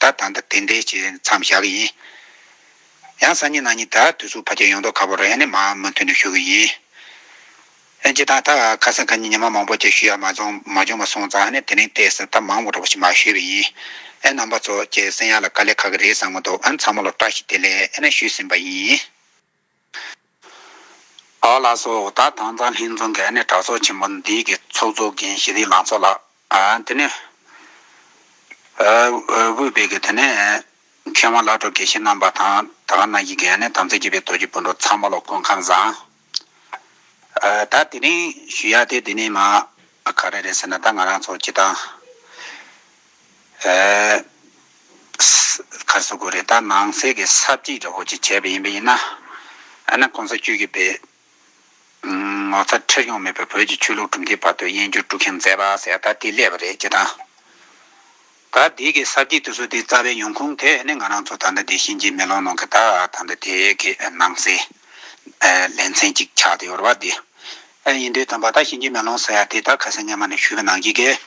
A: ད་ད་ལྟ་དེ་འདྲའི་བྱེད་མཚམས་བཞག་གི་ཡིན། ཡང་སང་ཉིན་གནངས་ཉིན་ད་དུས་སུ་བར་ཆད་ཡོང་དོགས་ཁ་པོ་རེད་ཨ་ནི་མ་མུ་མཐུད་ནས་ཞུ་གི་ཡིན། ཨེ་ཅི་ད་ད་ཁ་སང་ཁ་ཉིན་ཉི་མ་མང་པོ་བྱས་ཞུ་ཡག་མ་བྱུང་མ་བྱུང་བ་སོང་ཙང་ཨ་ནི་དེ་རིང་བལྟས་ཟེར་ད་མང་བོ་འགྲོ་བ་ཞིག་མ་ཞུས་པ་ཡིན། ཨེ་རྣམ་པ་ཚོ་ཁྱེད་སེང་ཡག་ལ་དཀའ་ལས་ཁག་གི་རེད་བསམ་གི་འདུག་ཨ་ནི་ཚང་མ་ལོ་བཀྲ་ཤིས་བདེ་ལེགས་ཨེ་ན་ཞུས་ཟིན་པ་ཡིན། བག་ལགས་སོ། ད་དང་ཙང་ལྷན་འཛོམས་ཀྱི་ཨ་ནེ་གྲགས་ཚོགས་ཆེན་པོ་འདི་གི་ཚོགས་གཙོ་འགན་བཞེས་རིགས་ལང་ཚོ་ལགས། དེ་ནས་དབུས་བེད་ཀྱི་དེ་ནས་མཁས་དབང་བླ་གྲོགས་དགེ་བཤེས་རྣམ་པ་དང་ད་ག་ནང་བཞིན་གྱི་ཨ་ནེ་དམ་ཚིག་རྒྱས་པའི་རྡོ་རྗེ་སྤུན་གྲོགས་ཚང་མ་ལ་སྐུ་ཁམས་བཟང། ད་དེ་རིང་ཞུ་ཡག་དེ་དེ་ནས་མ་ག་རེ་རེད་ཟེར་ན་ད་ང་རང་ཚོ་སྤྱི་བཏང། ཁར་བཟོ་དགོས་རེད་ད་ནང་གསེས་ཀྱི་ས་བརྗིད་ར་བོ་ཆེ་བྱས་པ་ཡིན་པ་ཡིན་ན་ཨ་ན་གོང་ས་བཅུད་ཀྱི་བེ་ངོ་ཚ་ཁྲེལ་སྐྱོང་མེད་པའི་བོད་ཀྱི་ཆོས་ལུགས་གྲུབ་མཐའི་བར་དུ་དབྱེན་སྦྱོར་དཀྲུག་མཁན་མཛད་པ་ཟེར་ད་དེ་ཀླད་པ་རེད་ཅེས་དང། ད་དེ་ཀྱི་ས་བརྗིད་དུ་བཟོ་དེའི་རྩ་བའི་ཡོང་ཁུངས་དེ་ནི་ང་རང་ཚོ་ད་ལྟ་དེ་གཤིན་རྗེའི་མེ་ལོང་ནང་གི་ད་ད་ལྟ་དེ་ཀྱི་ནང་གསེས་ལེ་ཚན་གཅིག་ཆགས་ཏེ་ཡོད་རེད་བ་དེ་ཡིན་དུས་དང་བ་ད་གཤིན་རྗེའི་མེ་ལོང་ཟེར་ཡ་དེ་ད་ཁ་སང་སྙན་མ་ནས་ཞུས་པའི་ནང་གི་གེ།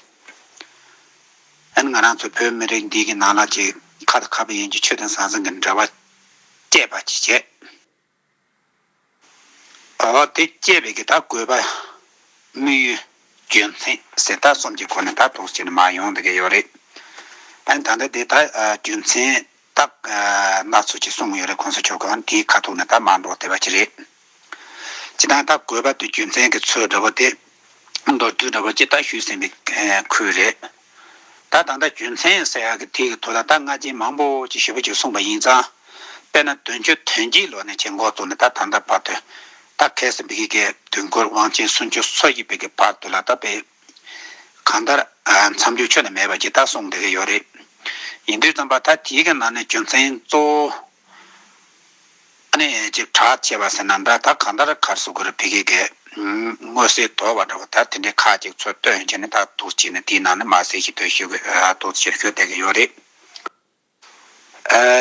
A: ཨན་ང་རང་ཚོ་བོད་མི་རིགས་འདི་གི་ནང་ལ་གྱི་ཁ་དང་ཁ་བའི་ཡན་གྱི་ཆོས་དང་ཟང་ཟིང་གི་འབྲེལ་བ་བཅད་པ་གྱིས་བྱས། འོ་དེ་བཅད་པའི་གི་ད་དགོས་པ་དམིགས་ཡུལ་རྒྱུ་མཚན་གསལ་ཐག་གསུམ་གྱི་སྐོར་ནས་ད་ཐོག་ཅིག་ནས་མ་ཡོང་དགོས་ཀྱི་ཡོད་རེད། ཨན་ད་ལྟ་དེ་ད་རྒྱུ་མཚན་རྟགས། སྣ་ཚོགས་ཀྱི་གསུང་ཡོད་རེད་ཁོང་ཚོས་ཆོག་གམ་དེའི་ཁ་ཐུག་ནས་ད་མར་འགྲོ་བསྡད་པ་ཅི་རེད། ཅི་སྟངས་ད་གོས་པ་དུས་རྒྱུ་མཚན་གྱི་ཚོད་འདྲ་པོ་དེ། མདོར་བསྡུས་འདྲ་པོ་ཅི་ལྟར་ཞུས་ཟིན་པའི་ཁུལ་རེད། ད་ད་ལྟ་རྒྱུ་མཚན་ཟེར་ཡག་གི་དེའི་ཐོག་ལ་ད་སྔ་རྗེས་མང་པོ་ཅིག་ཞུས་པ་ཅིག་གསུངས་པ་ཡིན་ཙང། དཔེར་ན་དོན་གཅོད་དོན་གྱིས་ལོ་ནས་ཆེ་འགོ་བཙུགས་ནས་ད་ད་ལྟ་བར་དུ། ད་གལ་སྲིད་བོད་ཀྱི་དགེ་བསྐོས་དབང་ཆེན་སུམ་ཅུ་སོ་བཞི་བོད་ཀྱི་བར་དུ་ལ་ད་བོད། གང་ལྟར། མཚམས་འཇོག་ཆོད་ན་མེད་པ་ཇི་ལྟར་སོང་བསྡད་ཀྱི་ཡོད་རེད། ཡིན་དུས་རྩམ་པ་ད་དེའི་གི་ནང་ནས་རྒྱུ་མཚན་གཙོ་བོ་ནི་ཅིག་གྲགས་ཆེ་བ་ཟེར་ན་འདྲ་ད་གང་ལྟར་གར་སོ་གུར་བི་གི་གི་དངོས་སེལ་དོར་བ་འདྲ་བ་ད་དེ་འདྲའི་ཁ་ཅིག་ཚོ་ལྟོས་ཡོང་ཆེ་ནི་ད་དུག་ཅིག་ནི་དེའི་ནང་ནས་མ་སེལ་ཞིག་ལྟོས་ཞིག་གི་དུག་ཕྱིར་ཤོར་བསྡད་ཀྱི་ཡོད་རེད།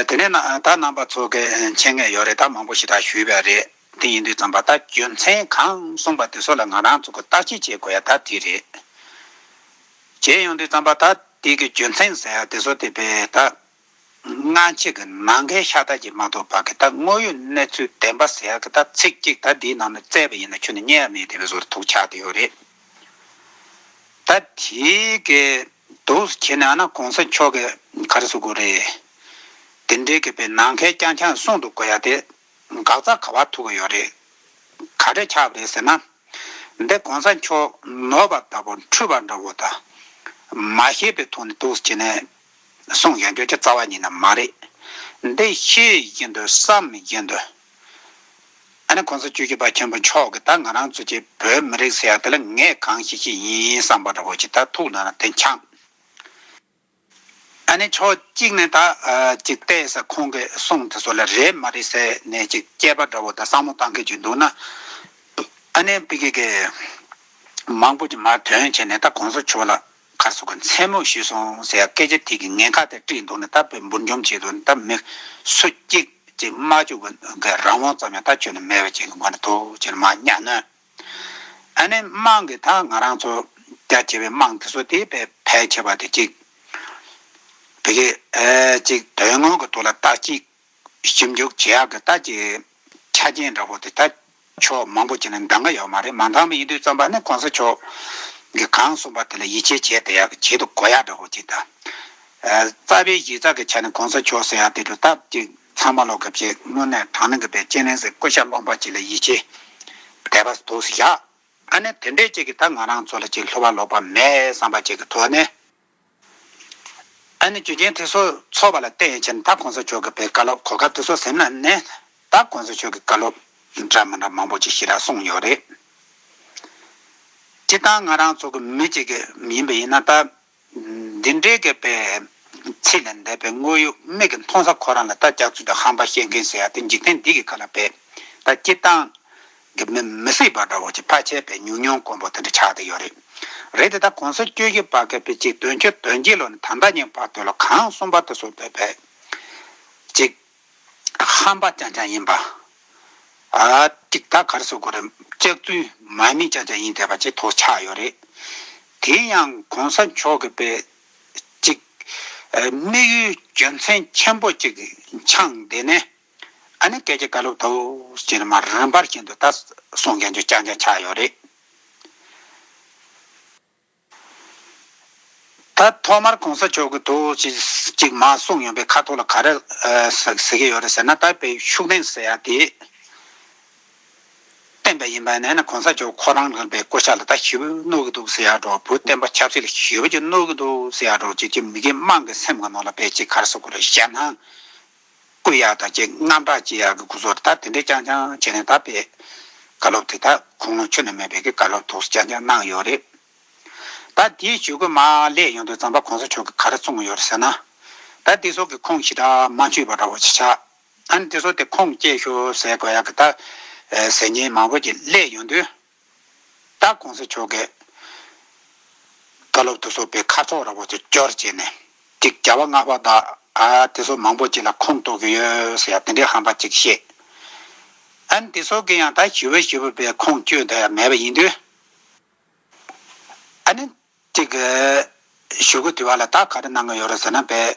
A: དེ་ནས་ན་ད་རྣམ་པ་ཚོ་གི་མཆན་ངས་ཡོད་རེད་ད་མང་པོ་ཞིག་ད་ཞུས་པས་རེད་དེ་ཡིན་དུས་ཙམ་པ་ད་རྒྱུ་མཚན་གང་གསུངས་པ་དེ་ཚོ་ལ་ང་རང་ཚོ་གི་བརྟག་དཔྱད་བྱེད་དགོས་ཡ་ད་དེ་རེད་བྱས་ཡོང་དུས་ཙམ་པ་ད་དེ་གི་རྒྱུ་མཚན་ཟེར་ཡ་དེ་ཚོ་དེ་པས་ད་སྔ་ཕྱི་གི་ནང་གི་ཤ་ད་ཀྱི་མ་ཏོག་བར་གི་ད་དངོས་ཡོད་གནས་ཚུལ་བདེན་པ་ཟེར་ཡ་གི་ད་ཚིག་གཅིག་ད་དེའི་ནང་ནས་བཙལ་བ་ཡིན་ན་ཆུ་ནི་རྙེད་ཡ་མེད་དེ་བས་ཟོར་ཐུག་ཆགས་དེ་ཡོད་རེད་ད་དེའི་གི། འདུག་བཟོ་ཁྱེད་ནི་ཨ་ན་གོང་ས་མཆོག་གི་གར་བཟོ་དགོས་རེད། དེ་འདྲའི་དགེ་བའི་ནང་ཁལ་རྐྱང་རྐྱང་གསུང་འདུག་གོ་ཡ་དེ་འགག་རྩ་ག་བར་ཐུག་གི་ཡོད་རེད། ག་འདྲས་ཆགས་པ་རེད་ཟེར་ན། འདི་གོང་ས་མཆོག་ནོར་བ་ལྟ་བུ་འཁྲུལ་བ་འདྲ་བོ་ད། མ་ཤེས་པའི་ཐོག་ནས་འདུག་བཟོ་ཁྱེད་ནི་གསུང་ཡ་འགྱོད་ཀྱི་རྩ་བ་ཉིད་ནི་མ་རེད། འདི་ཤེས་ཡིན་དུ་བསམ་ཡིན་དུ་ཨ་ནི་ཁོང་ཚོ་བཅོས་ཀྱི་པ་ཁྱེན་པོ་མཆོག་གི་ད་ང་རང་ཚོ་ཀྱི་བོད་མི་རིགས་ཟེར་ཡག་དེ་ལ་ངས་གང་ཞིག་ཞིག་ཡིན་བསམ་པ་འདྲ་བོ་ཞིག་ད་ཐུག་ན་དེ་འཁྱངས། ཨ་ནི་ཕྱོགས་གཅིག་ནས་ད་ཅིག་བལྟས་ས་ཁོང་གི་གསུང་དེ་ཚོ་ལ་རེད་མ་རེད་ཟེར་ནས་ཅིག་སྐྱེས་པ་འདྲ་བོ་ད་བསམ་བློ་གཏང་གི་ཅིག་འདུག་ན། ཨ་ནི་པི་ཀི་ཀི་མང་པོ་ཅིག་མར་དོན་བྱས་ནས་ད་གོང་ས་མཆོག་ལ་ཁ་སོགས་ཀྱི་མཚན་མོ་ཞུས་སོང་ཟེར་ཡ་སྐད་ཆ་དེ་གིས་ངའི་ཁ་དེ་དཀྲིས་འདུག་ནས་ད་བོད་འབུར་འཇོམས་བྱེད་དུ་ད་མི་སུ་གཅིག་ཅིག་སྨྲ་བཅུག་པ་འགས་རང་དབང་ཙམ་ཡང་ད་ཁྱོན་ནས་མེད་པ་ཅིག་མ་རེད་དོ་ཅེས་མ་སྙ་ན། ཨ་ནེ་དམངས་ཀྱིས་ད་ང་རང་ཚོ་རྒྱ་ཆེ་བའི་དམངས་དེ་ཚོ་དེ་བས་ཕལ་ཆེ་བ་དེ་གཅིག་བོད་ཀྱི་ཅིག་དོན་དངོས་ཀྱི་ཐོག་ལ་ད་ཅིག་ཞིབ་འཇུག་བྱེད་ཡག་གི་རྟགས་ཀྱི་ཆ་རྐྱེན་འདྲ་བོ་དེ་དག་ཕྱོགས་མང་པོ་ཅིག་ནས་འདང་གི་ཡོད་མ་རེད་མ་འདང་བའི་ཡིད་དུ་བརྩམས་པ་ནི་གོང་ས་མཆོག་གིས་གང་གསུངས་པ་དེ་ལ་ཡིད་ཆེས་བྱས་དེ་ཡག་གི་བྱེད་དུ་གོ་ཡག་འདྲ་བོ་ཅིག་དང། རྩ་བའི་གཞི་རྩ་གི་ཆ་ནས་གོང་ས་མཆོག་ཟེར་ཡག་དེ་གྲུབ་སྟབས་ཅིག་ཚང་མ་ལོག་གི་བྱེད་དངོས་ནས་དྲང་ནི་གི་པའི་དཔྱད་གླེང་ཟེར་བཀོད་ཤ་སློང་པ་ཅིག་ལ་ཡིད་ཆེས་དད་པ་དུག་སེ་བཞག་ཨ་ནི་དེ་འདྲས་ཅིག་གིས་ད་ང་རང་ཚོ་ལ་ཅིག་ལྷུ་བ་ལོག་པ་མེད་བསམ་པ་ཅིག་གི་ཐོག་ནས། ཨ་ནི་རྒྱུ་རྐྱེན་དེ་ཚོ་ཚོར་བ་ལ་བལྟས་ཡོད་ཕྱིར་ད་གོང་ས་མཆོག་གི་བའི་བཀའ་སློབ་གོ་སྐབས་དེ་ཚོ་ཟིན་ན་ནི་ད་གོང་ས་མཆོག་གི་བཀའ་སློབ་འདྲ་མི་འདྲ་མང་པོ་ཅིག་ཞིག་ར་གསུངས་ཡོད་རེད། སྤྱིར་བཏང་ང་རང་ཚོ་གི་མི་གཅིག་ཡིན་པ་ཡིན་ན་ད་འདི་འདྲའི་གི་བའི་ཚིག་ལ་འདས་པའི་དངོས་ཡོད་མིག་གི་མཐོང་ས་ཁོ་རང་ལ་ད་སྐྱག་རྫུན་དུ་ཧམ་པ་བཤད་མཁན་ཟེར་ཡ་དེ་འཇིག་རྟེན་འདི་གི་བཀའ་ལ་བས་ད་སྤྱིར་བཏང་གི་མི་མི་སྲིད་པ་འདྲ་བོ་ཅིག་ཕ་ཆད་པའི་ཉུང་ཉུང་དཀོན་པོ་དེ་འདྲ་ཆགས་བསྡད་ཡོད་རེད། རེད་དེ་ད་གོང་ས་བཅོས་ཀྱི་བར་སྐད་ཕེབས་ཅིག་དོན་ཆོས་དོན་གྱི་ལོ་ནས་ད་ལྟ་ཉིན་བར་དུ་ལོ་གང་གསུམ་པར་དུ་སོ་བེད་བེད་ཅིག། ཧམ་པ་ཅང་ཅང་ཡིན་པ། ཅིག་ད་གར་སོ་དགོས་རེད་ལྕགས་རྫུན་མ་མི་ཅང་ཅང་ཡིན་བསྡད་པ་ཅིག་ཐོག་ཆགས་ཡོད་རེད། དེ་ཡང་གོང་ས་མཆོག་གི་བེད་ཅིག། དམིགས་ཡུལ་རྒྱུ་མཚན་ཆེན་པོ་ཅིག་འཆང་བསྡད་ནས། ཨ་ནི་སྐད་ཆ་བཀའ་སློབ་ཐོག་ཅེར་མ་རིན་པར་བྱས་འདུག་ད་སོང་མཁན་ཚོས་ཅང་ཅང་ཆགས་ཡོད་རེད། ད་ཐོག་མར་གོང་ས་མཆོག་གི་ཐོག་ཅེས་ཅིག་མ་གསུངས་ཡོང་པའི་ཁ་ཐོག་ལ་ག་རེ་ཟེར་གི་ཡོད་རེད་ཟེར་ན་ད་བེད་ཤུགས་ལྡན་ཟེར་ཡ་དེ་བསྟན་པ་ཡིན་པ་ན་ན་གོང་ས་མཆོག་ཁོ་རང་རང་བའི་བསྐོ་བྱ་ལ་ད་ཞི་བུ་བསྣོག་གི་འདུག་ཟེར་ཡག་འགྲོ་བུ་བསྟན་པ་ཆབ་སྲིད་ལ་ཞི་བུ་ཅིག་བསྣོག་གི་འདུག་ཟེར་ཡག་འགྲོ་ཅིག་ཅིག་མི་དགེ་དམངས་ཀྱི་སེམས་ཁ་ནང་ལ་བེད་ཅིག་ག་རེ་བཟོ་དགོས་རེད་བཤད་ན། སྐུ་ཡག་དང་བཅས་སྔ་དྲག་སྤྱི་ཡག་གི་སྐུ་གཟུགས་ལ་ད་དེ་འདྲས་རྐྱང་རྐྱང་བྱས་ནས་ད་བཀའ་སློབ་དེ་དག་ཁུངས་ལུང་ཆུ་ནས་མེད་པའི་གི་བཀའ་སློབ་དོགས་སུ་རྐྱང་རྐྱང་གནང་ཡོད་རེད། ད་དེའི་ཇུས་འགོད་མ་ལས་ཡོང་དུས་ཙང་པ་གོང་ས་མཆོག་གིས་ག་རེ་གསུངས་ཡོད་རེད་ཟེར་ན། ད་དེ་སོགས་ཀྱི་ཁུངས་ཞི་དྲག་མ་འཆུས་པ་འདྲ་བོ་ཅིག་ཆགས། ད་ནི་དེ་སོགས་དེ་ཁུངས་སྐྱེལ་ཞོར་ཟེར་དགོས་ཡག་གི་ད་ཟེར་ཉེན་མང་བོ་ཅིག་ལས་ཡོང་དུས། ད་གོང་ས་མཆོག་གིས་བཀའ་སློབ་ཏུ་བཟོ་པའི་ཁ་ཕྱོགས་ར་བོ་ཆེ་སྐྱོར་བྱས་ནས་ཅིག་བྱ་བ་སྔགས་པ་དག་དེ་ཚོ་མང་པོ་ཅིག་ལ་ཁོངས་གཏོགས་ཀྱི་ཡོད་ཟེར་ཡ་དེ་འདྲའི་ཧམ་པ་ཅིག་བཤད། ཨན་དེ་ཚོ་གི་ཡང་ད་ཞི་བོ་ཞི་བོ་པའི་ཁོངས་བསྐྱོད་དེ་ཡང་མེད་པ་ཡིན་དུས། ཨ་ནི་ཅིག་ཞུ་གི་དུས་བ་ལ་ད་ག་རེ་གནང་གི་ཡོད་རེད་ཟེར་ན་བས།